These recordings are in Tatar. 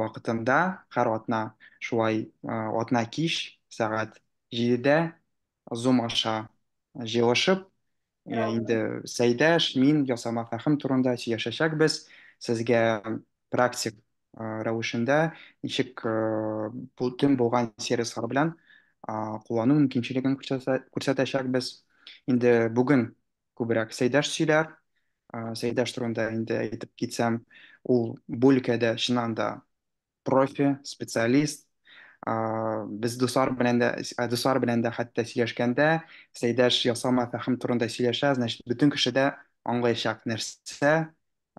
вакытында һәр атна шулай атна кич сәгать җидедә зум аша җыелышып инде сәйдәш мин ясама фәхем турында сөйләшәчәкбез сезгә практик рәвешендә ничек бүтән булган сервислар белән куллану мөмкинчелеген күрсәтәчәкбез инде бүген күбрәк Сәйдәш сөйләр. Ә, Сәйдәш турында инде әйтеп китсәм, ул бу өлкәдә чыннан да профи, специалист. Ә, Без дуслар белән дә, ә, дуслар белән дә хәтта сөйләшкәндә, Сәйдәш ясалма фәһем турында сөйләшә, значит, бөтен кеше дә аңлаячак нәрсә,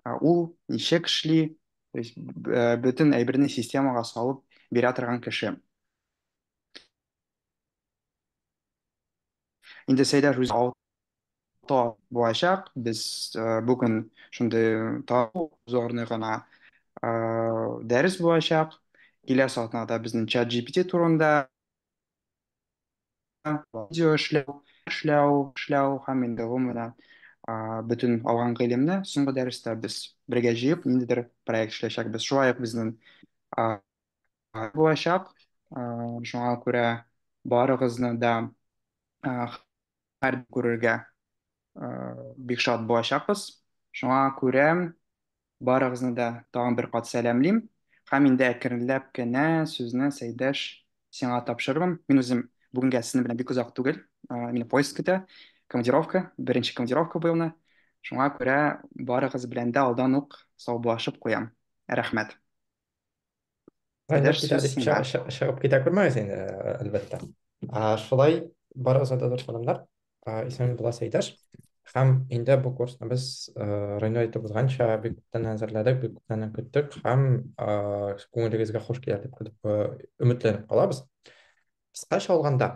ә, ул ничек эшли, то есть, б- ә, бөтен әйберне системага салып бирә торган кеше. Инде Сәйдәш үзе тап булачак. Без э, бүген шундый табу зорный гына э, дәрес булачак. Киләсе атнада безнең чат GPT турында видео эшләү, эшләү, эшләү һәм инде гомумән а, бөтен алган гыйлемне соңгы дәрестә без бергә җыеп ниндидер проект эшләячәкбез. Шулай ук безнең а, а, булачак. А, шуңа күрә барыгызны да а, Һәр күрергә бик шат булачакбыз. Шуңа күрә барыгызны да тагын бер кат сәламлим. Һәм инде әкренләп кенә сүзне, Сәйдәш, сиңа тапшырырмын. Мин үзем бүгенгә сезнең белән бик озак түгел. Мине поезд көтә, командировка, беренче командировка бу елны. Шуңа күрә барыгыз белән дә алдан ук саубуллашып куям. Рәхмәт. Әйдә, Әйдә, шире шире чыгып, чыгып, чыгып китә күрмәгез инде, ә, әлбәттә. А, шулай бар озата дошманнар, а, исән буласы иптәш. Һәм инде бу курсны без, а, Реню әйтеп узганча, бик күптән әзерләдек, бик күптән көттек һәм, а, күңелегезгә хуш килер дип көтеп, а, өметләнеп калабыз. Кыскача алганда,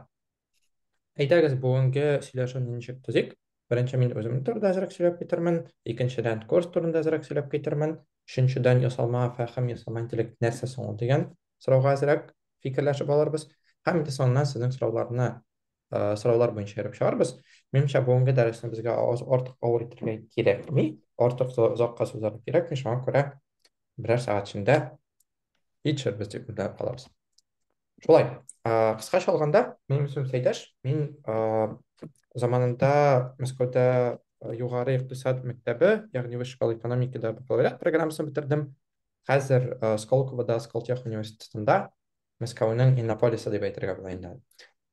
Әйдәгез, бүгенге сөйләшүне ничек төзик? Беренче мин үзем турында әзрәк сөйләп китермен, икенчедән курс турында әзрәк сөйләп китермен, өченчедән ясалма фәһем, ясалма интеллект нәрсә соң ул дигән сорауга әзрәк фикерләшеп алырбыз. Һәм инде соңыннан сезнең сорауларны э, сораулар буенча йөреп чыгарбыз. Минемчә, бүгенге дәресне безгә аз- артык авыр итәргә кирәкми, артык за- озакка сузарга кирәкми, шуңа күрә берәр сәгать эчендә итшер без тек күтәреп калабыз шулай кыскача алганда минем исемем сәйдәш мин заманында мәскәүдә югары икътисад мәктәбе ягъни высшая школа экономикада бакалавриат программасын бетердем хәзер сколковода сколтех университетында мәскәүнең иннополисы дип әйтергә була инде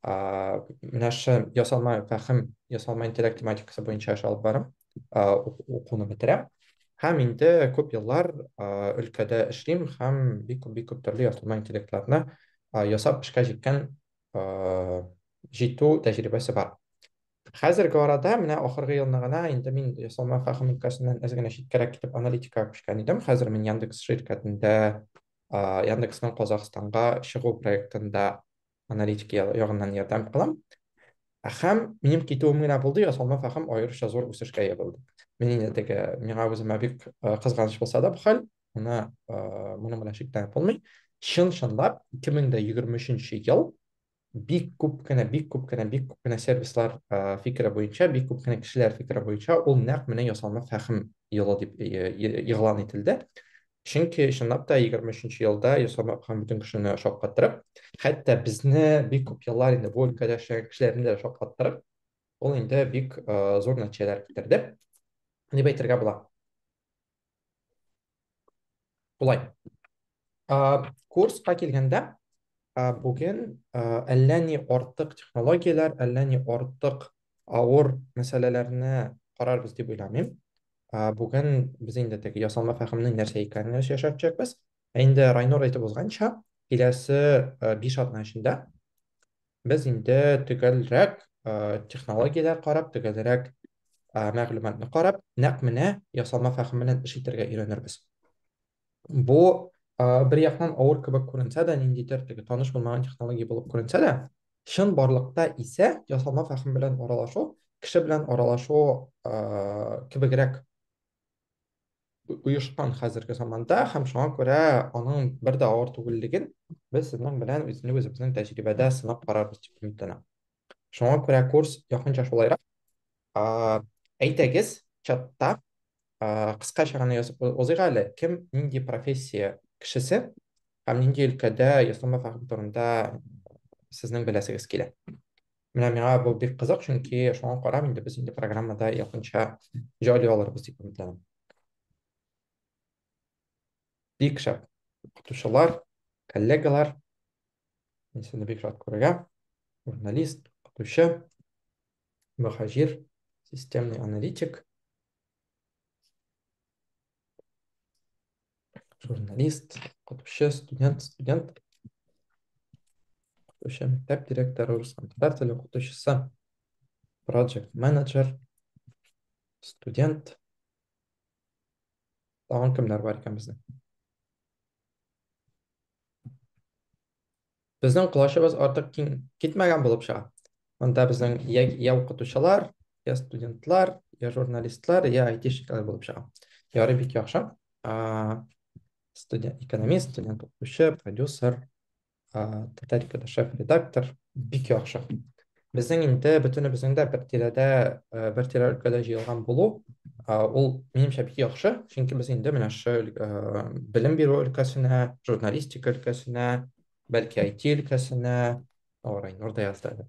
менә шушы ясалма фәһем, ясалма интеллект тематикасы буенча эш алып барам, укуны бетерәм. Һәм инде күп еллар өлкәдә эшлим һәм бик күп бик күп төрле ясалма интеллектларны ясап эшкә җиткән җитү тәҗрибәсе бар. Хәзерге арада менә ахыргы елны гына инде мин ясалма фәһем өлкәсеннән әз генә читкәрәк китеп аналитикага күчкән идем. Хәзер мин Яндекс ширкәтендә Яндекснең Казахстанга чыгу проектында аналитик ягыннан ярдәм алам. Һәм минем китүем генә булды, ясалма фәһем аеруча зур үсешкә ия булды. Мин инде теге миңа үземә бик кызганыч булса да бу хәл, моны моны белән шикләнеп булмый. Чын-чынлап 2023 ел бик күп кенә, бик күп кенә, бик күп кенә сервислар фикере буенча, бик күп кенә кешеләр фикере буенча ул нәкъ менә ясалма фәһем елы дип игълан ителде. Чөнки чынлап та 23 елда ясалма укыган бөтен кешене шаккаттырып, хәтта безне бик күп еллар инде бу өлкәдә эшләгән кешеләрне дә шаккаттырып, ул инде бик э, зур нәтиҗәләр китерде дип әйтергә була. Болай. Э, курска килгәндә, э, бүген э, әллә ни артык технологияләр, әллә ни артык авыр мәсьәләләрне карарбыз дип уйламыйм. Ә, Бүген без инде тег ясалма фәһемнең нәрсә икәнен яш- яшәп төшәкбез. Ә инде Райнур әйтеп узганча, киләсе э, биш атна эчендә без инде төгәлрәк э, технологияләр карап, төгәлрәк э, мәгълүматны карап, нәкъ менә ясалма фәһем белән эш итәргә өйрәнербез. Бу бер яктан авыр кебек күренсә дә, ниндидер теге таныш булмаган технология булып күренсә дә, чын барлыкта исә ясалма фәһем белән аралашу, кеше белән аралашу кебегрәк оешкан хәзерге заманда һәм шуңа күрә аның бер дә авыр түгеллеген без сезнең белән үзенек үзебезнең тәҗрибәдә сынап карарбыз дип өметләнәм. Шуңа күрә курс якынча шулайрак. Әйтегез, чатта кыска чараны язып узыйк әле. Кем нинди профессия кешесе һәм нинди өлкәдә ясалма фәһем турында сезнең беләсегез килә? Менә миңа бу бик кызык, чөнки шуңа карап инде без инде программада якынча җайлый алырбыз дип өметләнәм. Бик шәп. Укытучылар, коллегалар. Мин сезне бик рад күрергә. Журналист, укытучы, мөхаҗир, системный аналитик. Журналист, укытучы, студент, студент. Укытучы, мәктәп директоры, рус һәм татар теле укытучысы, project менеджер, студент, Тагын кемнәр бар икән безнең? Безнең колачыбыз артык киң китмәгән булып чыга. Монда безнең я, я укытучылар, я студентлар, я журналистлар, я айтишниклар булып чыга. Ярый бик яхшы. Студент, экономист, студент укытучы, продюсер, Татарикада шеф-редактор, бик яхшы. Безнең инде бөтенебезнең дә бер тирәдә, бер тирә өлкәдә җыелган булу, ул минемчә бик яхшы, чөнки без инде менә шул белем бирү өлкәсенә, журналистика өлкәсенә, бәлки IT өлкәсенә, орай нурда язды әле.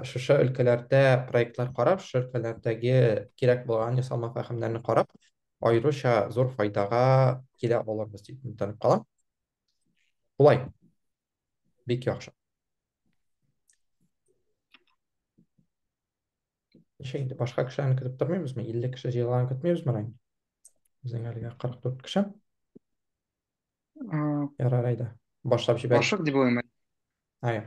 Шушы өлкәләрдә проектлар карап, шушы өлкәләрдәге кирәк булган ясалма фәһемнәрне карап, аеруча зур файдага килә алырбыз дип өметләнеп калам. Болай. Бик яхшы. Ничә инде башка кешеләрне көтеп тормыйбызмы? 50 кеше җыелганын көтмибезме әле? Безнең әлегә 44 кеше. Ярар әйдә. Башлап җибәрик. Башлык дип уйлыйм. Ай.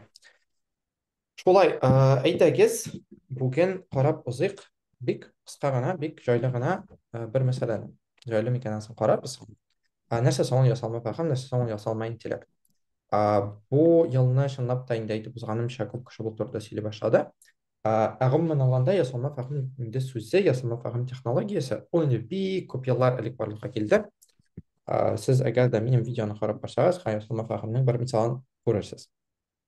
Шулай, ә, әйдәгез, бүген карап узыйк бик кыска гына, бик җайлы гына ә, бер мәсьәләне. Җайлы микән ансын карарбыз. Ә, нәрсә соң ул ясалма фәһем, нәрсә соң ул ясалма интеллект? Ә, бу елны чынлап та инде әйтеп узганымча күп кеше бу турыда сөйли башлады. Ә, ә гомумән алганда ясалма фәһем инде сүзе, ясалма фәһем технологиясе ул инде бик күп еллар элек барлыкка килде. Ә, сез әгәр дә минем видеоны карап барсагыз, һәм ясалма фәһемнең бер мисалын күрерсез.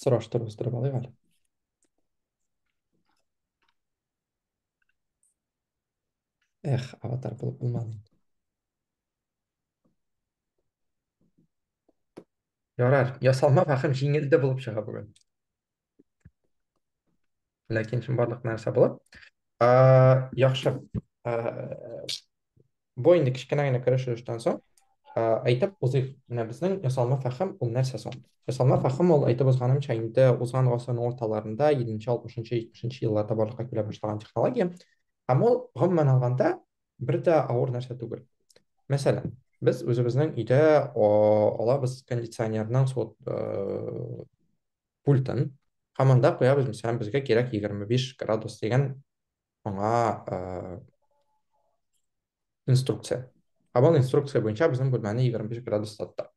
Сораштырып үстереп алыйк әле. Эх, аватар булып булмады. Ярар, ясалма фәхем җиңелде булып чыга бүген. ләкин шул барлык нәрсә була. Ә, яхшы. Ә, бу инде кечкенә генә керешелештән соң әйтеп узыйк. Менә безнең ясалма фәһем ул нәрсә соң? Ясалма фәһем ул әйтеп узганымча инде узган гасырның урталарында 7-60-70 елларда барлыкка килә башлаган технология. Һәм ул гомумән алганда бер дә авыр нәрсә түгел. Мәсәлән, без үзебезнең өйдә алабыз кондиционерның суыт пультын һәм анда куябыз, мәсәлән, безгә кирәк 25 градус дигән аңа э, инструкция. Һәм ул инструкция буенча безнең бүлмәне 25 градус тотты.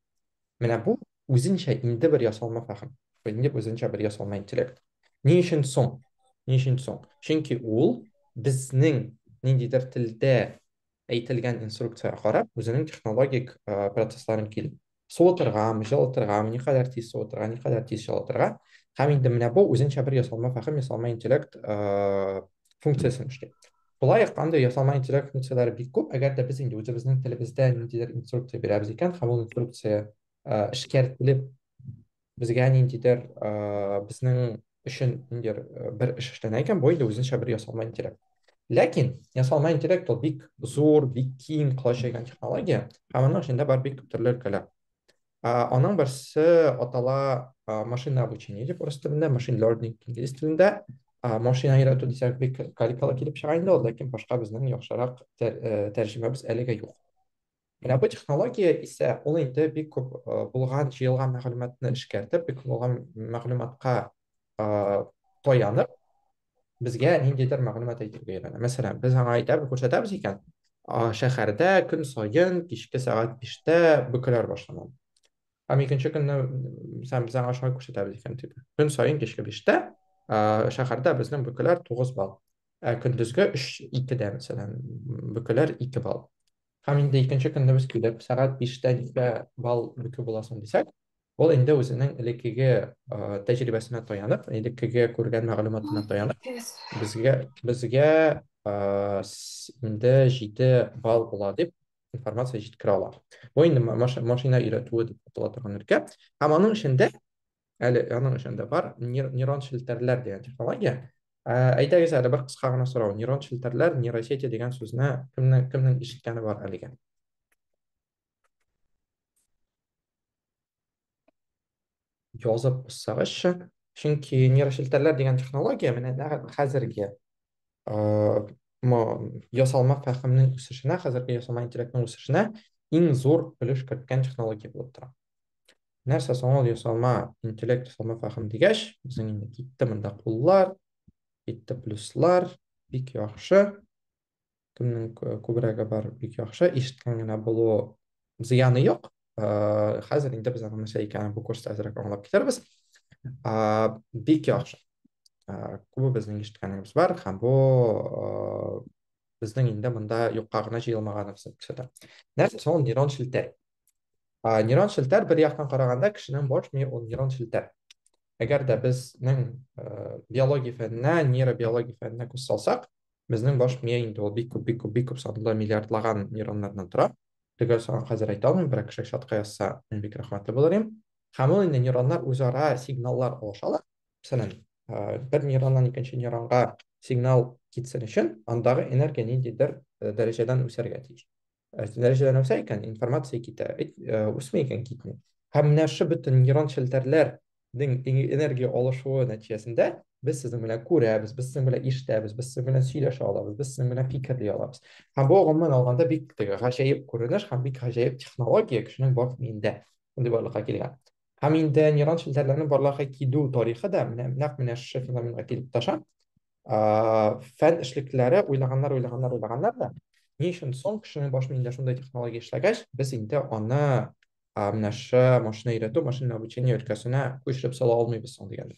Менә бу үзенчә инде бер ясалма фәһем. Бу инде үзенчә бер ясалма интеллект. Ни өчен соң? Ни өчен соң? Чөнки ул безнең ниндидер телдә Әйтелгән инструкциягә карап, үзенең технологик процессларын кил. Суытыргамы, җылытыргамы, никадәр тиз суытырга, никадәр тиз җылытырга. Һәм инде менә бу үзенчә бер ясалма фәһем, ясалма интеллект функциясен эшли. Шулай ук андый ясалма интеллект функцияләре бик күп, әгәр дә без инде үзебезнең телебездә ниндидер инструкция бирәбез икән, һәм ул инструкция эшкәртелеп безгә ниндидер э, безнең өчен ниндидер э, бер эш эшләнә икән, бу инде үзенчә бер ясалма интеллект. Ләкин ясалма интеллект ул бик зур, бик киң колач җәйгән технология, һәм аның эчендә бар бик күп төрле өлкәләр. Э, аның берсе атала э, машина обучение дип урыс телендә, машин learning инглиз телендә. Э, машина өйрәтү дисәк бик каликалы килеп чыга инде ул, ләкин башка безнең яхшырак тәр, э, тәрҗемәбез әлегә юк. Менә бу технология исә ул инде бик күп э, булган, җыелган мәгълүматны эшкәртеп, бик күп булган мәгълүматка э, таянып, безгә ниндидер мәгълүмат әйтергә өйрәнә. Мәсәлән, без аңа әйтәбез, күрсәтәбез икән, шәһәрдә көн саен кичке сәгать 5-тә бөкеләр башлана. Һәм икенче көнне сәм без аңа шулай күрсәтәбез икән дип. Көн саен кичке 5-тә шәһәрдә безнең бөкеләр 9 балл. Ә көндезге 3-2-дә, мәсәлән, бөкеләр 2 балл. Һәм инде икенче көнне без килеп, сәгать биштә нигә бал бөке буласың дисәк, ул инде үзенең элеккеге тәҗрибәсенә таянып, элеккеге күргән мәгълүматына таянып, безгә безгә инде җиде бал була дип информация җиткерә ала. Бу инде машина өйрәтүе дип атала торган өлкә. Һәм аның эчендә әле аның өчен дә бар нейрон челтәрләр дигән технология әйдәгез әле бер кыска гына сорау нейрон челтәрләр нейросети дигән сүзне кемнең кемнең ишеткәне бар әлегә язып куссагызчы чөнки нейрошелтәрләр дигән технология менә нәкъ хәзерге ясалма фәһемнең үсешенә хәзерге ясалма интеллектның үсешенә иң зур өлеш керткән технология булып тора нәрсә соң ул ясалма интеллект ясалма фәһем дигәч безнең инде китте монда куллар китте плюслар бик яхшы кемнең күбрәге бар бик яхшы ишеткән генә булу зыяны юк ә, хәзер инде без аның нәрсә икәнен бу курста әзрәк аңлап китәрбез ә, бик яхшы ә, күбе безнең ишеткәнебез бар һәм бу ә, безнең инде монда юкка гына җыелмаганыбызны күрсәтә нәрсә соң ул нейрон челтәр ә, нейрон челтәр бер яктан караганда кешенең баш мие ул нейрон челтәр әгәр дә безнең ә, биология фәненә нейробиология фәненә күз салсак безнең баш мие инде ул бик күп бик күп бик күп санлы миллиардлаган нейроннардан тора төгәл санын хәзер әйтә алмыйм берәр кеше чатка язса мин бик рәхмәтле булыр идем һәм ул инде нейроннар үзара сигналлар алышалар мәсәлән ә, бер нейроннан икенче нейронга сигнал китсен өчен андагы энергия ниндидер э, дәрәҗәдән үсәргә тиеш дәрәҗәдә нәрсә икән информация китә бит үсми икән китми һәм менә шушы бөтен нейрон челтәрләрнең энергия алышуы нәтиҗәсендә без сезнең белән күрәбез без сезнең белән ишетәбез без сезнең белән сөйләшә алабыз без сезнең белән фикерли алабыз һәм бу гомумән алганда бик теге гаҗәеп күренеш һәм бик гаҗәеп технология кешенең бар миендә шундый барлыкка килгән һәм инде нейрон челтәрләрнең барлыкка килү тарихы да менә нәкъ менә шушы феноменга килеп таша фән эшлеклеләре уйлаганнар уйлаганнар уйлаганнар да ни өчен соң кешенең баш миендә шундай технология эшләгәч без инде аны менә шы машина өйрәтү машина обучение өлкәсенә күчереп сала алмыйбыз соң дигән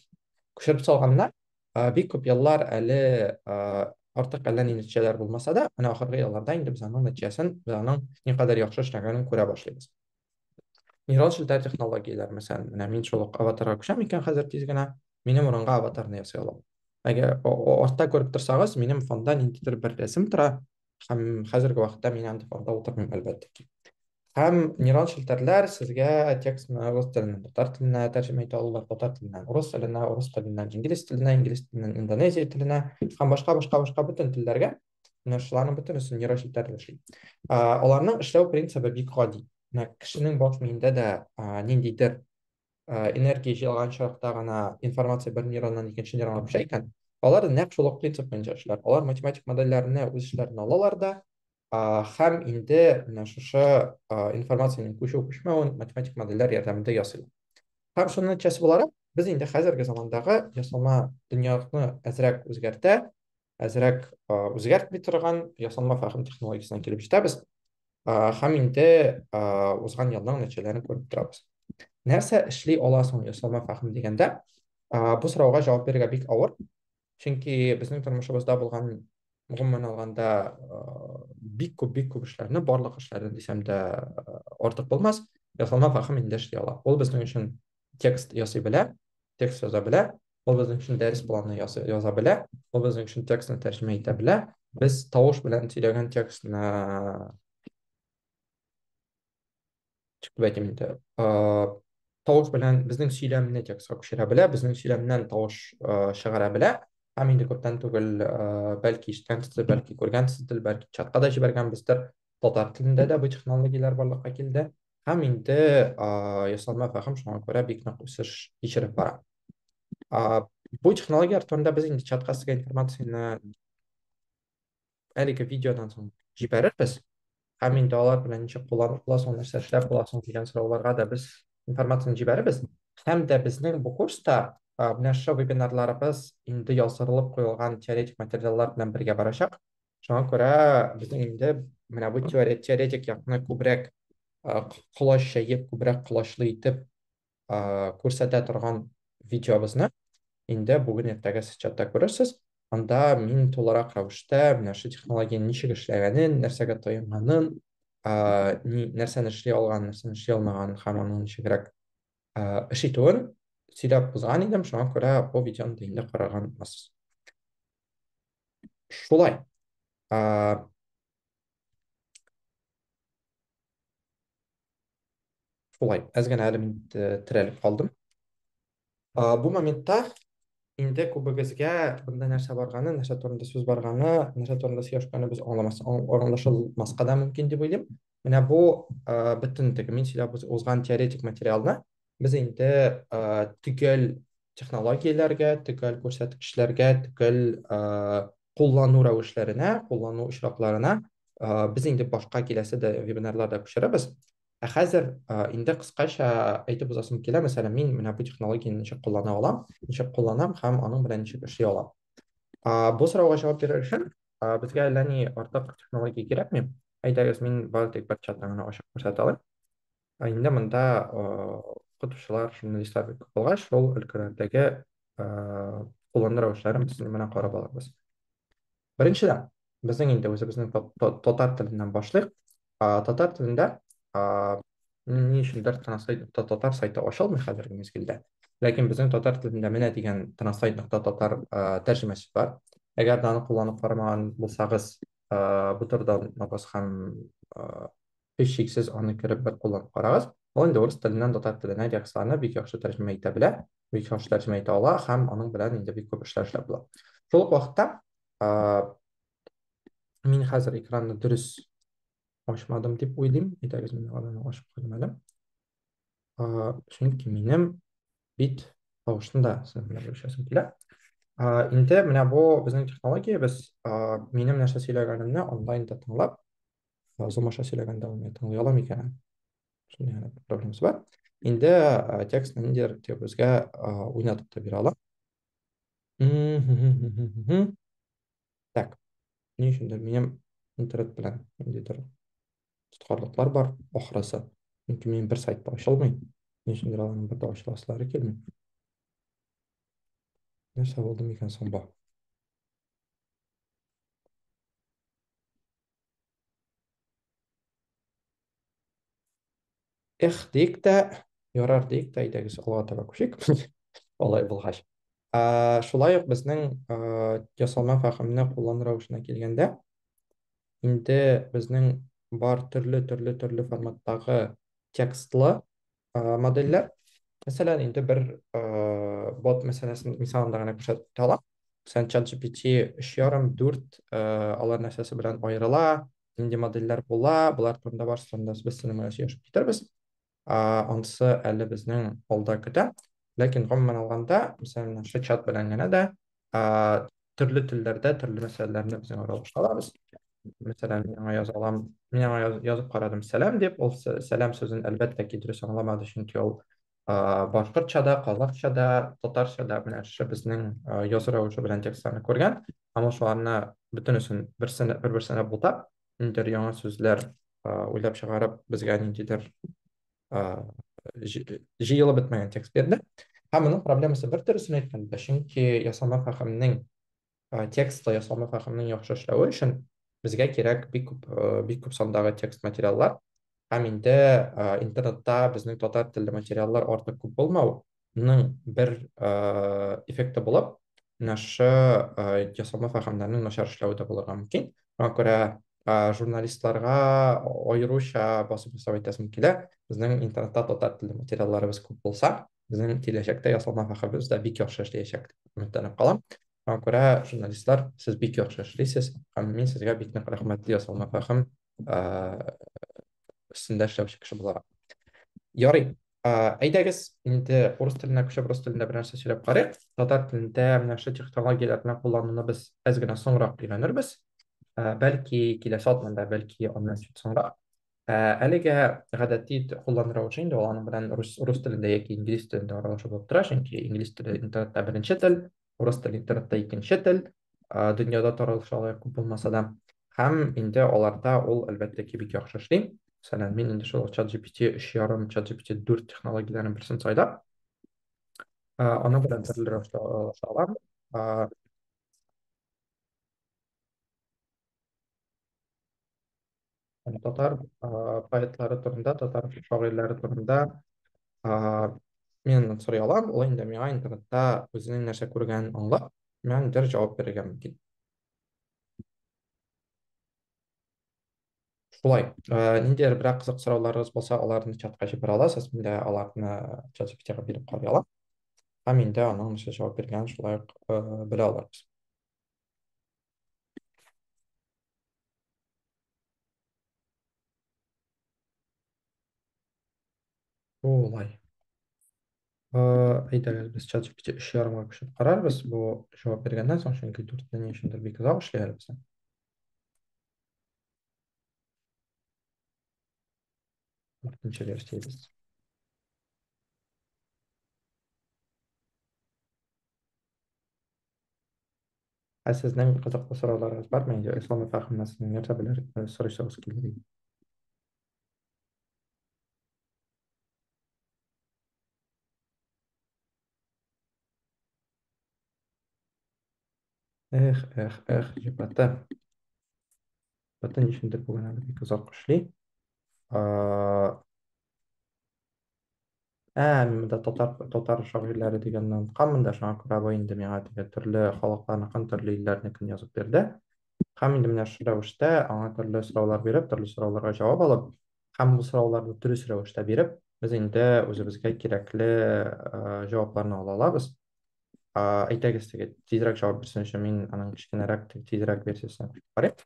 күчереп салганнар бик күп еллар әле артык әллә ни нәтиҗәләр булмаса да менә ахыргы елларда инде без аның нәтиҗәсен без аның никадәр яхшы эшләгәнен күрә башлыйбыз нейрал челтәр технологияләр мәсәлән менә мин шул ук аватарга күчәм икән хәзер тиз генә минем урынга аватарны ясый алам әгәр артта күреп торсагыз минем фонда ниндидер бер рәсем тора һәм хәзерге вакытта мин анда фонда утырмыйм әлбәттә ки һәм нейрал челтәрләр сезгә текстны рус теленнән татар теленә тәрҗемә итә алалар татар теленнән урыс теленә урыс теленнән инглиз теленә инглиз теленнән индонезия теленә һәм башка башка башка бөтен телләргә менә шуларның бөтенесе нейрочипләрдә эшли аларның эшләү принцибы бик гади менә кешенең баш миендә дә ниндидер энергия җыелган чакта гына информация бер нейроннан икенче нейронга күчә икән алар нәкъ шул ук принцип буенча эшләр алар математик модельләрне үз эшләренә алалар да һәм инде менә шушы информациянең күчү күчмәвен математик модельләр ярдәмендә ясыйлар һәм шуның нәтиҗәсе буларак без инде хәзерге замандагы ясалма дөньяны әзрәк үзгәртә әзрәк үзгәртми торган ясалма фәһем технологиясенә килеп җитәбез һәм инде узган елның нәтиҗәләрен күреп торабыз нәрсә эшли ала соң ясалма фәһем дигәндә бу сорауга җавап бирергә бик авыр чөнки безнең тормышыбызда булган гомумән алганда бик күп бик күп эшләрне барлык эшләрне дисәм дә артык булмас ясалма фәһем инде эшли ала ул безнең өчен текст ясый белә текст яза белә ул безнең өчен дәрес планы яза белә, ул безнең өчен текстны тәрҗемә итә белә. Без тавыш белән сөйләгән текстны чыгып әйтим инде. Тавыш белән безнең сөйләмне текстка күчерә белә, безнең сөйләмнән тавыш чыгара белә. Һәм инде күптән түгел, бәлки ишеткәнсездер, бәлки күргәнсездер, бәлки чатка да җибәргәнбездер, татар телендә дә бу технологияләр барлыкка килде. һәм инде ясалма фәһем шуңа күрә бик нык үсеш кичереп бара. Бу технологияләр турында без инде чатка сезгә информацияне әлеге видеодан соң җибәрербез. Һәм инде алар белән ничек кулланып буласың, нәрсә эшләп буласың дигән сорауларга да без информацияне җибәрербез. Һәм дә безнең бу курста менә шушы вебинарларыбыз инде яздырылып куелган теоретик материаллар белән бергә барачак. Шуңа күрә безнең инде менә бу теоретик якны күбрәк колач чәеп, күбрәк колачлы итеп күрсәтә торган видеобызны инде бүген иртәгә сез чатта күрерсез. Анда мин тулырак рәвештә менә шул технологияне ничек эшләгәнен, нәрсәгә таянганын, нәрсәне эшли алган, нәрсәне эшли алмаганын һәм аның ничегрәк эш итүен сөйләп узган идем. Шуңа күрә бу видеоны да инде караган буласыз. Шулай. Ә, шулай. Әз генә әле мин терәлеп калдым. Ә, бу моментта инде күбегезгә бында нәрсә барганы, нәрсә турында сүз барганы, нәрсә турында сөйләшкәне без аңламас, аңлашылмаска да мөмкин дип уйлыйм. Менә бу ә, бөтен теге мин сөйләп узган теоретик материалны без инде ә, төгәл технологияләргә, төгәл күрсәткечләргә, төгәл ә, куллану рәвешләренә, куллану очракларына ә, без инде башка киләсе дә вебинарларда күчерәбез. Ә хәзер ә, инде кыскача әйтеп узасым килә, мәсәлән, мин менә бу технологияне ничек куллана алам, ничек кулланам һәм аның белән ничек эшли алам. Ә, бу сорауга җавап бирер өчен безгә әллә ни артык технология кирәкми. Әйдәгез, мин бары тик бер чатны гына ачып күрсәтә алыйм. Ә инде монда укытучылар, журналистлар бик күп булгач, шул өлкәләрдәге куллану рәвешләрен без менә карап алабыз. Беренчедән, безнең инде үзебезнең татар теленнән башлыйк. Татар телендә ни өчендер транслейт татар сайты ачылмый хәзерге мизгелдә. Ләкин безнең татар телендә менә дигән транслейт татар тәрҗемәсе бар. Әгәр дә аны кулланып карамаган булсагыз, бутердан баскан Һич шиксез аны кереп бер кулланып карагыз. Ул инде урыс теленнән татар теленә диярле бик яхшы тәрҗемә итә белә, бик яхшы тәрҗемә итә ала һәм аның белән инде бик күп эшләр эшләп була. Шул ук вакытта мин хәзер экранны дөрес ачмадым дип уйлыйм. Әйдәгез, мин аларны ачып куйдым әле. Чөнки минем бит тавышын да сәламләп үсәсең килә. Инде менә бу безнең технологиябез, минем нәрсә сөйләгәнемне онлайн да тыңлап, замаша сөйләгәндә аны тыңлый ала микән? Шундый проблемасы бар. Инде текстны ниндидер төбезгә уйнатып та бирә ала. Так, ни өчен дә минем интернет белән ниндидер тоткарлыклар бар, ахрысы. Чөнки минем бер сайт та ачылмый. Ни өчен дә аның бер дә ачыласылары килми. Нәрсә булды микән соң бу? Эх, дик тә, ярар дик тә, әйдәгез, алга таба күчик. Алай булгач. Ә, шулай ук безнең ясалма фәһемне куллану рәвешенә килгәндә, инде безнең бар төрле-төрле-төрле форматтагы текстлы модельләр. Мәсәлән, инде бер бот мәсьәләсен мисалында гына күрсәтеп алам. Мәсәлән, ChatGPT 3,5-4 алар нәрсәсе белән аерыла, нинди модельләр була, болар турында барысы турында без сезнең белән сөйләшеп китербез. Ансы әле безнең алда көтә. Ләкин гомумән алганда, мәсәлән, шул чат белән генә дә ә, төрле телләрдә төрле мәсьәләләрне без яңа рәвештә алабыз. Мәсәлән, миңа яза алам, мин аңа яз, язып карадым сәлам дип, ул сәлам сүзен әлбәттә ки дөрес аңламады, чөнки ул башкортча да, казакча да, татарча да менә шушы безнең язу рәвеше белән текстларны күргән, һәм ул шуларны бөтенесен берсенә бер-берсенә бутап, ниндидер яңа сүзләр уйлап чыгарып, безгә ниндидер җыелып бетмәгән текст бирде. Һәм моның проблемасы бер төресен әйткәндә, чөнки ясалма фәһемнең текстлы ясалма фәһемнең яхшы эшләве өчен безгә кирәк бик күп бик күп сандагы текст материаллар. Һәм инде интернетта безнең татар телле материаллар артык күп булмау, ның бер эффекты булып, менә шушы ясалма фәһемнәрнең начар эшләве дә булырга мөмкин. Шуңа күрә журналистларга аеруча басым ясап әйтәсем килә, безнең интернетта татар телле материалларыбыз күп булса, безнең киләчәктә ясалма фәһемебез дә бик яхшы эшләячәк дип өметләнеп калам. Шуңа күрә, журналистлар, сез бик яхшы эшлисез һәм мин сезгә бик нык рәхмәтле ясалма фәһем өстендә эшләүче кеше буларак. Ярый, Әйдәгез, инде урыс теленә күчеп, рус телендә бер нәрсә сөйләп карыйк. Татар телендә менә шушы технологияләрне куллануны без әз генә соңрак өйрәнербез. Бәлки киләсе атнада, бәлки аннан чит соңрак. Әлегә гадәти куллану рәвеше инде ул аның белән рус рус телендә яки инглиз телендә аралашу булып тора, чөнки инглиз теле интернетта беренче тел, урыс теле интернетта икенче тел, дөньяда таралышы алай күп булмаса да. Һәм инде аларда ул, әлбәттә ки, бик яхшы эшли. Мәсәлән, мин инде шул ChatGPT 3.5, ChatGPT 4 технологияләрен берсен сайлап, аның белән төрле рәвештә алыша алам. Һәм татар поэтлары турында, татар шагыйрьләре турында мин сорый алам, ул инде миңа интернетта үзенең нәрсә күргәнен аңлап, миңа ниндидер җавап бирергә мөмкин. Шулай, ниндидер берәр кызык сорауларыгыз булса, аларны чатка җибәрә аласыз, мин дә аларны ChatGPT-га биреп карый алам. Һәм инде аның нәрсә җавап биргәнен шулай ук белә алырбыз. Олай. Әйдәр, без чат GPT өч ярымга күчеп карарбыз. Бу җавап биргәннән соң, чөнки дүртне ни өчендер бик озак эшли әле безнең. Дүртенче версиябез. Ә сезнең кызыклы сорауларыгыз бармы инде? Исламов хакында сез нәрсә белер, сорыйсыгыз килер иде? Эх, эх, эх, җепата. Бөтен өчендер бүген әле бик озак эшли. Ә, мин монда татар, татар шагыйрьләре дигәннән укыган да шуңа күрә бу инде миңа теге төрле халыкларныкын, төрле илләрнекен язып бирде. Һәм инде менә шул рәвештә аңа төрле сораулар биреп, төрле сорауларга җавап алып, һәм бу сорауларны дөрес рәвештә биреп, без инде үзебезгә кирәкле э, җавапларны ала алабыз. Э, Әйтегез теге тизрәк җавап бирсен өчен мин аның кечкенәрәк теге тизрәк версиясен кушып карыйм.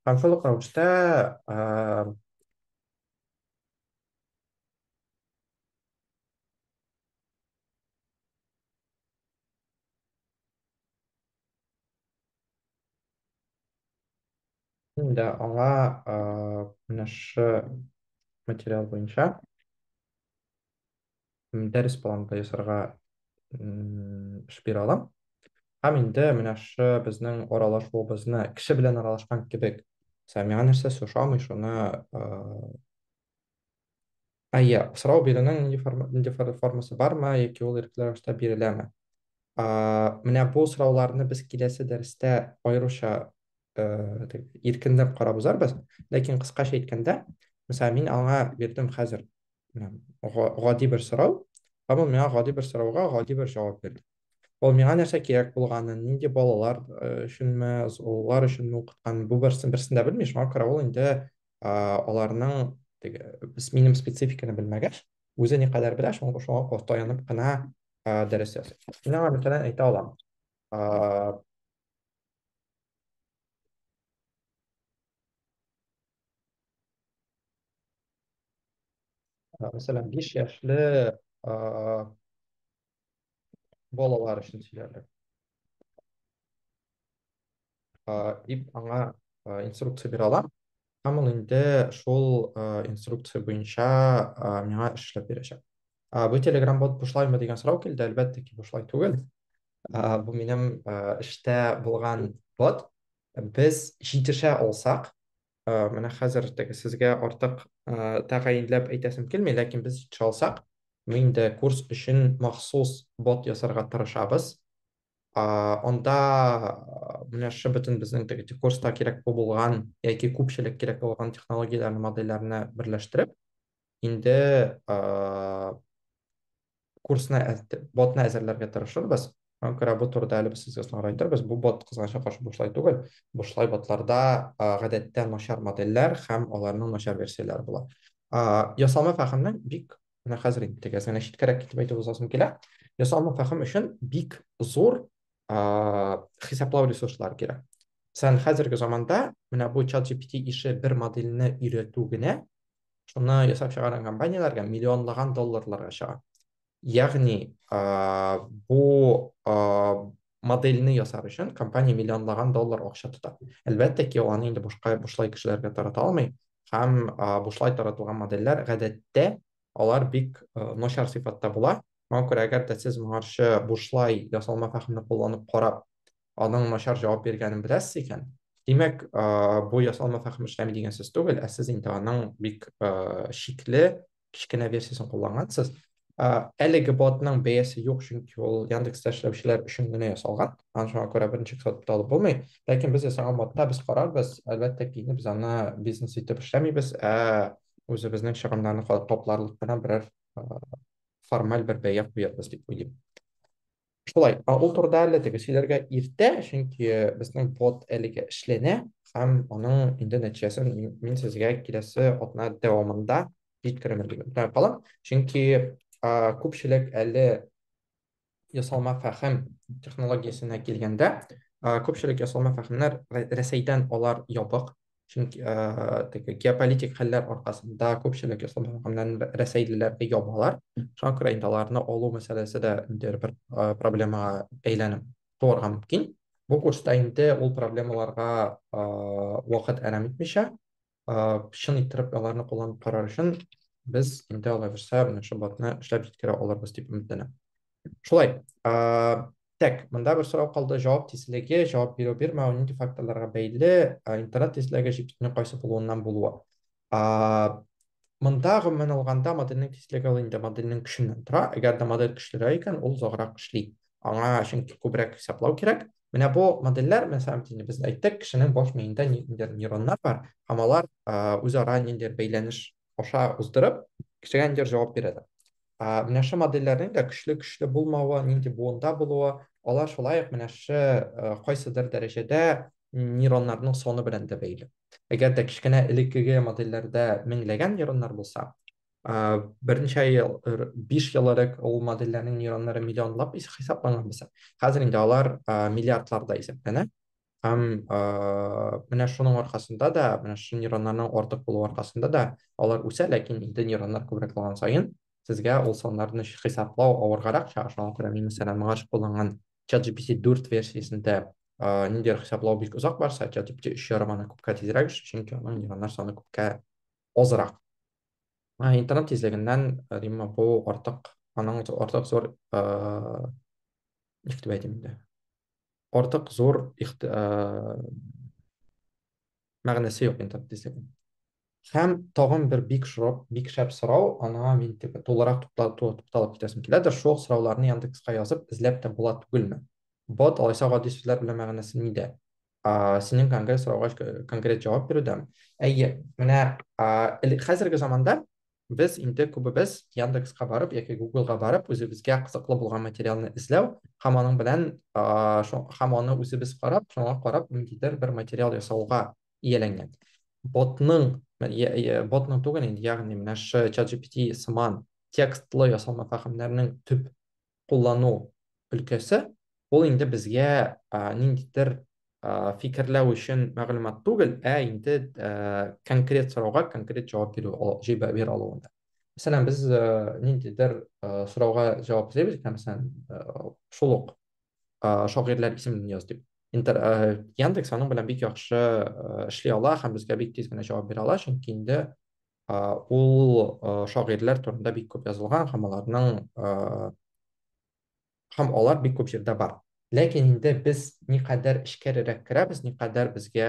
Һәм шул ук рәвештә э, Енді аңа ә, менә шы материал буенча м, дәрес планы да ясарга м, эш бирә алам. Һәм инде менә шы безнең аралашуыбызны кеше белән аралашкан кебек. Сәмига нәрсәсе ошамый, шуны ә, А, я, сорау бирүнең нинди форма, нинди формасы бармы яки ул ирекле рәвештә биреләме? А, менә бу сорауларны без киләсе дәрестә аеруча э, дип, иркенләп карап узарбыз. Ләкин кыскача әйткәндә, мисала мин аңа бирдем хәзер менә, га- гади бер сорау, һәм ул миңа гади бер сорауга гади бер җавап бирде. Ул миңа нәрсә кирәк булганын, нинди балалар э, өченме, золар өченме укыткан, бу берсен берсен дә белми, шуңа күрә ул инде аларның теге минем спецификаны белмәгәч үзе никадәр белә шуңа шуңа таянып кына дәрес ясый мин аңа мәсәлән әйтә алам мәсәлән биш яшьле балалар өчен сөйләрлек. Дип аңа инструкция бирә алам. Һәм ул инде шул инструкция буенча миңа эшләп бирәчәк. Бу Telegram бот бушлаймы дигән сорау килде. Әлбәттә ки, бушлай түгел. Бу минем эштә булган бот. Без җитешә алсак, Э, менә хәзер теге сезгә артык э, тәгаенләп әйтәсем килми, ләкин без җитешә алсак, мин инде курс өчен махсус бот ясарга тырышабыз. А, Анда а, менә шы бөтен безнең теге те- курста кирәк булган яки күпчелек кирәк булган технологияләрне, модельләрне берләштереп, инде ә, курсны ботны әзерләргә тырышырбыз Шуңа күрә бу турыда әле без сезгә соңрак әйтәрбез. Бу бот кызганычка каршы бушлай түгел. Бушлай ботларда гадәттә начар модельләр һәм аларның начар версияләре була. Ясалма фәһемнең бик менә хәзер инде тигез генә читкәрәк китеп әйтеп узасым килә. Ясалма фәһем өчен бик зур хисаплау ресурслары кирәк. Сән хәзерге заманда менә бу чат GPT ише бер модельне өйрәтү генә шуны ясап чыгарган компанияләргә миллионлаган долларларга чыга. Ягъни, бу модельне ясар өчен компания миллионлаган доллар акча тота. Әлбәттә ки, аны инде бушка бушлай кешеләргә тарата алмый һәм бушлай таратылган модельләр гадәттә алар бик начар сыйфатта була. Моңа күрә, әгәр дә сез моңарчы бушлай ясалма фәһемне кулланып карап, аның начар җавап биргәнен беләсез икән, димәк, бу ясалма фәһем эшләми дигән сүз түгел, ә сез инде аның бик шикле, кечкенә версиясен куллангансыз. Әлеге ботның бәясе юк, чөнки ул Яндекста эшләүчеләр өчен генә ясалган. Аны шуңа күрә берничек сатып та алып булмый. Ләкин без ясаган ботта без карарбыз. Әлбәттә ки, без аны бизнес итеп эшләмибез, ә үзебезнең чыгымнарны капларлык кына берәр формаль бер бәя куярбыз дип уйлыйм. Шулай, ә ул турыда әле теге сөйләргә иртә, чөнки безнең бот әлегә эшләнә, һәм аның инде нәтиҗәсен мин сезгә киләсе атна дәвамында җиткерермен дип өметләнеп калам. Чөнки күпчелек әле ясалма фәһем технологиясенә килгәндә, күпчелек ясалма фәһемнәр Рәсәйдән алар ябык, чөнки теге геополитик хәлләр аркасында күпчелек ислам халкыннан рәсәйлеләргә ябалар шуңа күрә инде аларны алу мәсьәләсе дә инде бер проблемага әйләнеп туарга мөмкин бу курста инде ул проблемаларга вакыт әрәм итмичә чын иттереп аларны кулланып карар өчен без инде алай булса менә шул ботны эшләп җиткерә алырбыз дип өметләнәм шулай ә, тәк мында бер сорау калды жауап тизлеге жауап бирү бирмәү нинди факторларга бәйле интернет тизлеге җиптүнең кайсы булуыннан булуы ә, мында гомумән алганда модельнең тизлеге ул инде модельнең көченнән тора әгәр дә модель көчлерәк икән ул озаграк эшли аңа чөнки күбрәк хисаплау кирәк Менә бу модельләр, менә сәбәп инде без әйттек, кешенең баш миендә ниндидер нейроннар бар, һәм алар үзара ниндидер бәйләнеш аша уздырып, кешегә ниндидер җавап бирәләр. Ә, менә шул модельләрнең дә көчле-көчле булмавы, нинди буында булуы, алар шулай ук менә шул э, кайсыдыр дәрәҗәдә нейроннарның саны белән дә бәйле. Әгәр дә кечкенә элеккеге модельләрдә меңләгән нейроннар булса, э, берничә ел, р- биш ел элек ул модельләрнең нейроннары миллионлап ис- хисапланган булса, хәзер инде алар э, миллиардларда исәпләнә. Һәм ә, менә шуның аркасында да, менә шушы нейроннарның артык булу аркасында да алар үсә, ләкин инде нейроннар күбрәк булган саен сезгә ул саннарны хисаплау авыргарак чыга. Шуңа күрә мин, мәсәлән, моңа кулланган ChatGPT 4 версиясендә ә, ниндидер хисаплау бик озак барса, ChatGPT 3 ярым аны күпкә тизрәк эшли, чөнки аның нейроннар саны күпкә азрак. Ә, интернет тизлегеннән, ә, димме, бу артык, аның артык зур, ә, ничек дип әйтим инде, артык зур ихти... ә... мәгънәсе юк интернет дисәгем. Һәм тагын бер бик шрап, бик шәп сорау, аңа мин теге тулырак тукталып китәсем килә дә, шул сорауларны Яндекска язып, эзләп тә була түгелме? Бот алайса гади сүзләр белән мәгънәсе нидә? А, синең конкрет сорауга конкрет җавап бирүдәм. Әйе, менә а, хәзерге заманда без инде күбебез Яндекска барып яки Гуглга барып үзебезгә кызыклы булган материалны эзләү һәм аның белән һәм аны үзебез карап, шуңа карап ниндидер бер материал ясауга ияләнгән. Ботның, ботның түгел инде, ягъни менә шы ChatGPT сыман текстлы ясалма фәһемнәрнең төп куллану өлкәсе, ул инде безгә ниндидер фикерләү өчен мәгълүмат түгел, ә инде конкрет сорауга конкрет җавап бирү җибә бир алуында. Мәсәлән, без ниндидер сорауга җавап эзлибез, мәсәлән, шул ук шагыйрьләр исемен яз дип. Интер Яндекс аның белән бик яхшы эшли ала һәм безгә бик тиз генә җавап бирә ала, чөнки инде ул шагыйрьләр турында бик күп язылган һәм аларның һәм алар бик күп җирдә бар. Ләкин инде без никадәр эчкәрерәк керәбез, никадәр безгә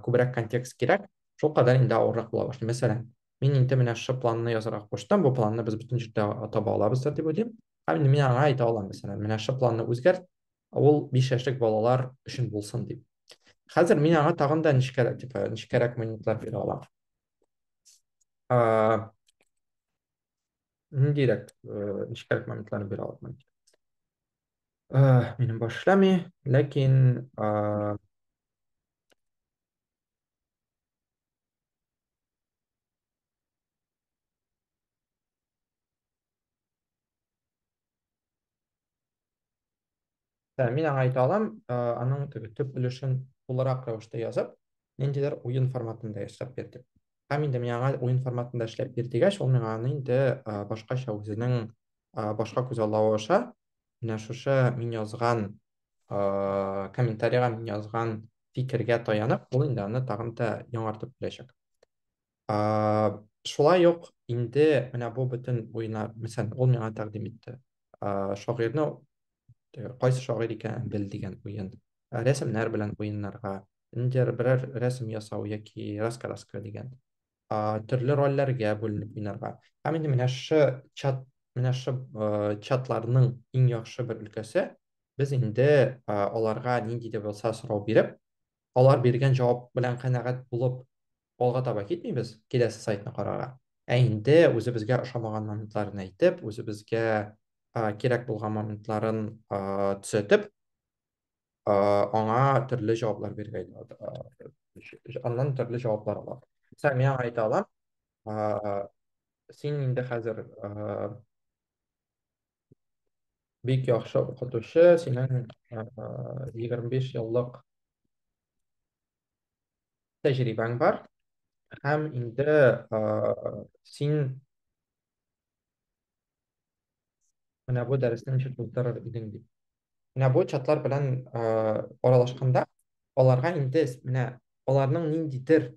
күбрәк контекст кирәк, шул кадәр инде авыррак була башлый. Мәсәлән, мин инде менә шушы планны язарга куштым, бу планны без бөтен җирдә таба алабыздыр дип уйлыйм. Һәм инде мин аңа әйтә алам, мәсәлән, менә шушы планны үзгәрт, ул биш яшьлек балалар өчен булсын дип. Хәзер мин аңа тагын да нечкәрәк, типа, нечкәрәк монетлар бирә алам. Ниндирәк э, нечкәрәк моментларны бирә алам. Э, минем баш эшләми, ләкин Ә, мин аңа әйтә алам, ә, аның теге төп өлешен тулырак рәвештә язып, ниндидер уен форматында ясап бир дип. Һәм инде мин аңа уен форматында эшләп бир дигәч, ул миңа аны инде ә, башкача үзенең ә, башка күзаллавы аша менә шушы мин язган ә, комментарига мин язган фикергә таянып, ул инде аны тагын да яңартып бирәчәк. ә, шулай ук инде менә бу бөтен уена мәсәлән ул миңа тәкъдим итте ә, шагыйрьне кайсы шагыйрь икәнен бел дигән уен ә, рәсемнәр белән уеннарга инде берәр рәсем ясау яки раскраска дигән ә, төрле рольләргә бүленеп уйнарга һәм инде менә шы чат менә шы ә, чатларның иң яхшы бер өлкәсе без инде ә, аларга нинди дә булса сорау биреп алар биргән җавап белән канәгать булып, алга таба китмибез, киләсе сайтны карарга. Ә инде үзебезгә ошамаган моментларын әйтеп, үзебезгә кирәк булган моментларын төзәтеп, аңа төрле җаваплар биргәй, аннан төрле җаваплар ала. Сәм миңа әйтә алам, син инде хәзер Бик яхшы укытучы, синең 25 еллык тәҗрибәң бар һәм инде син менә бу дәресне ничек булдырыр идең дип. Менә бу чатлар белән аралашканда аларга инде менә аларның ниндидер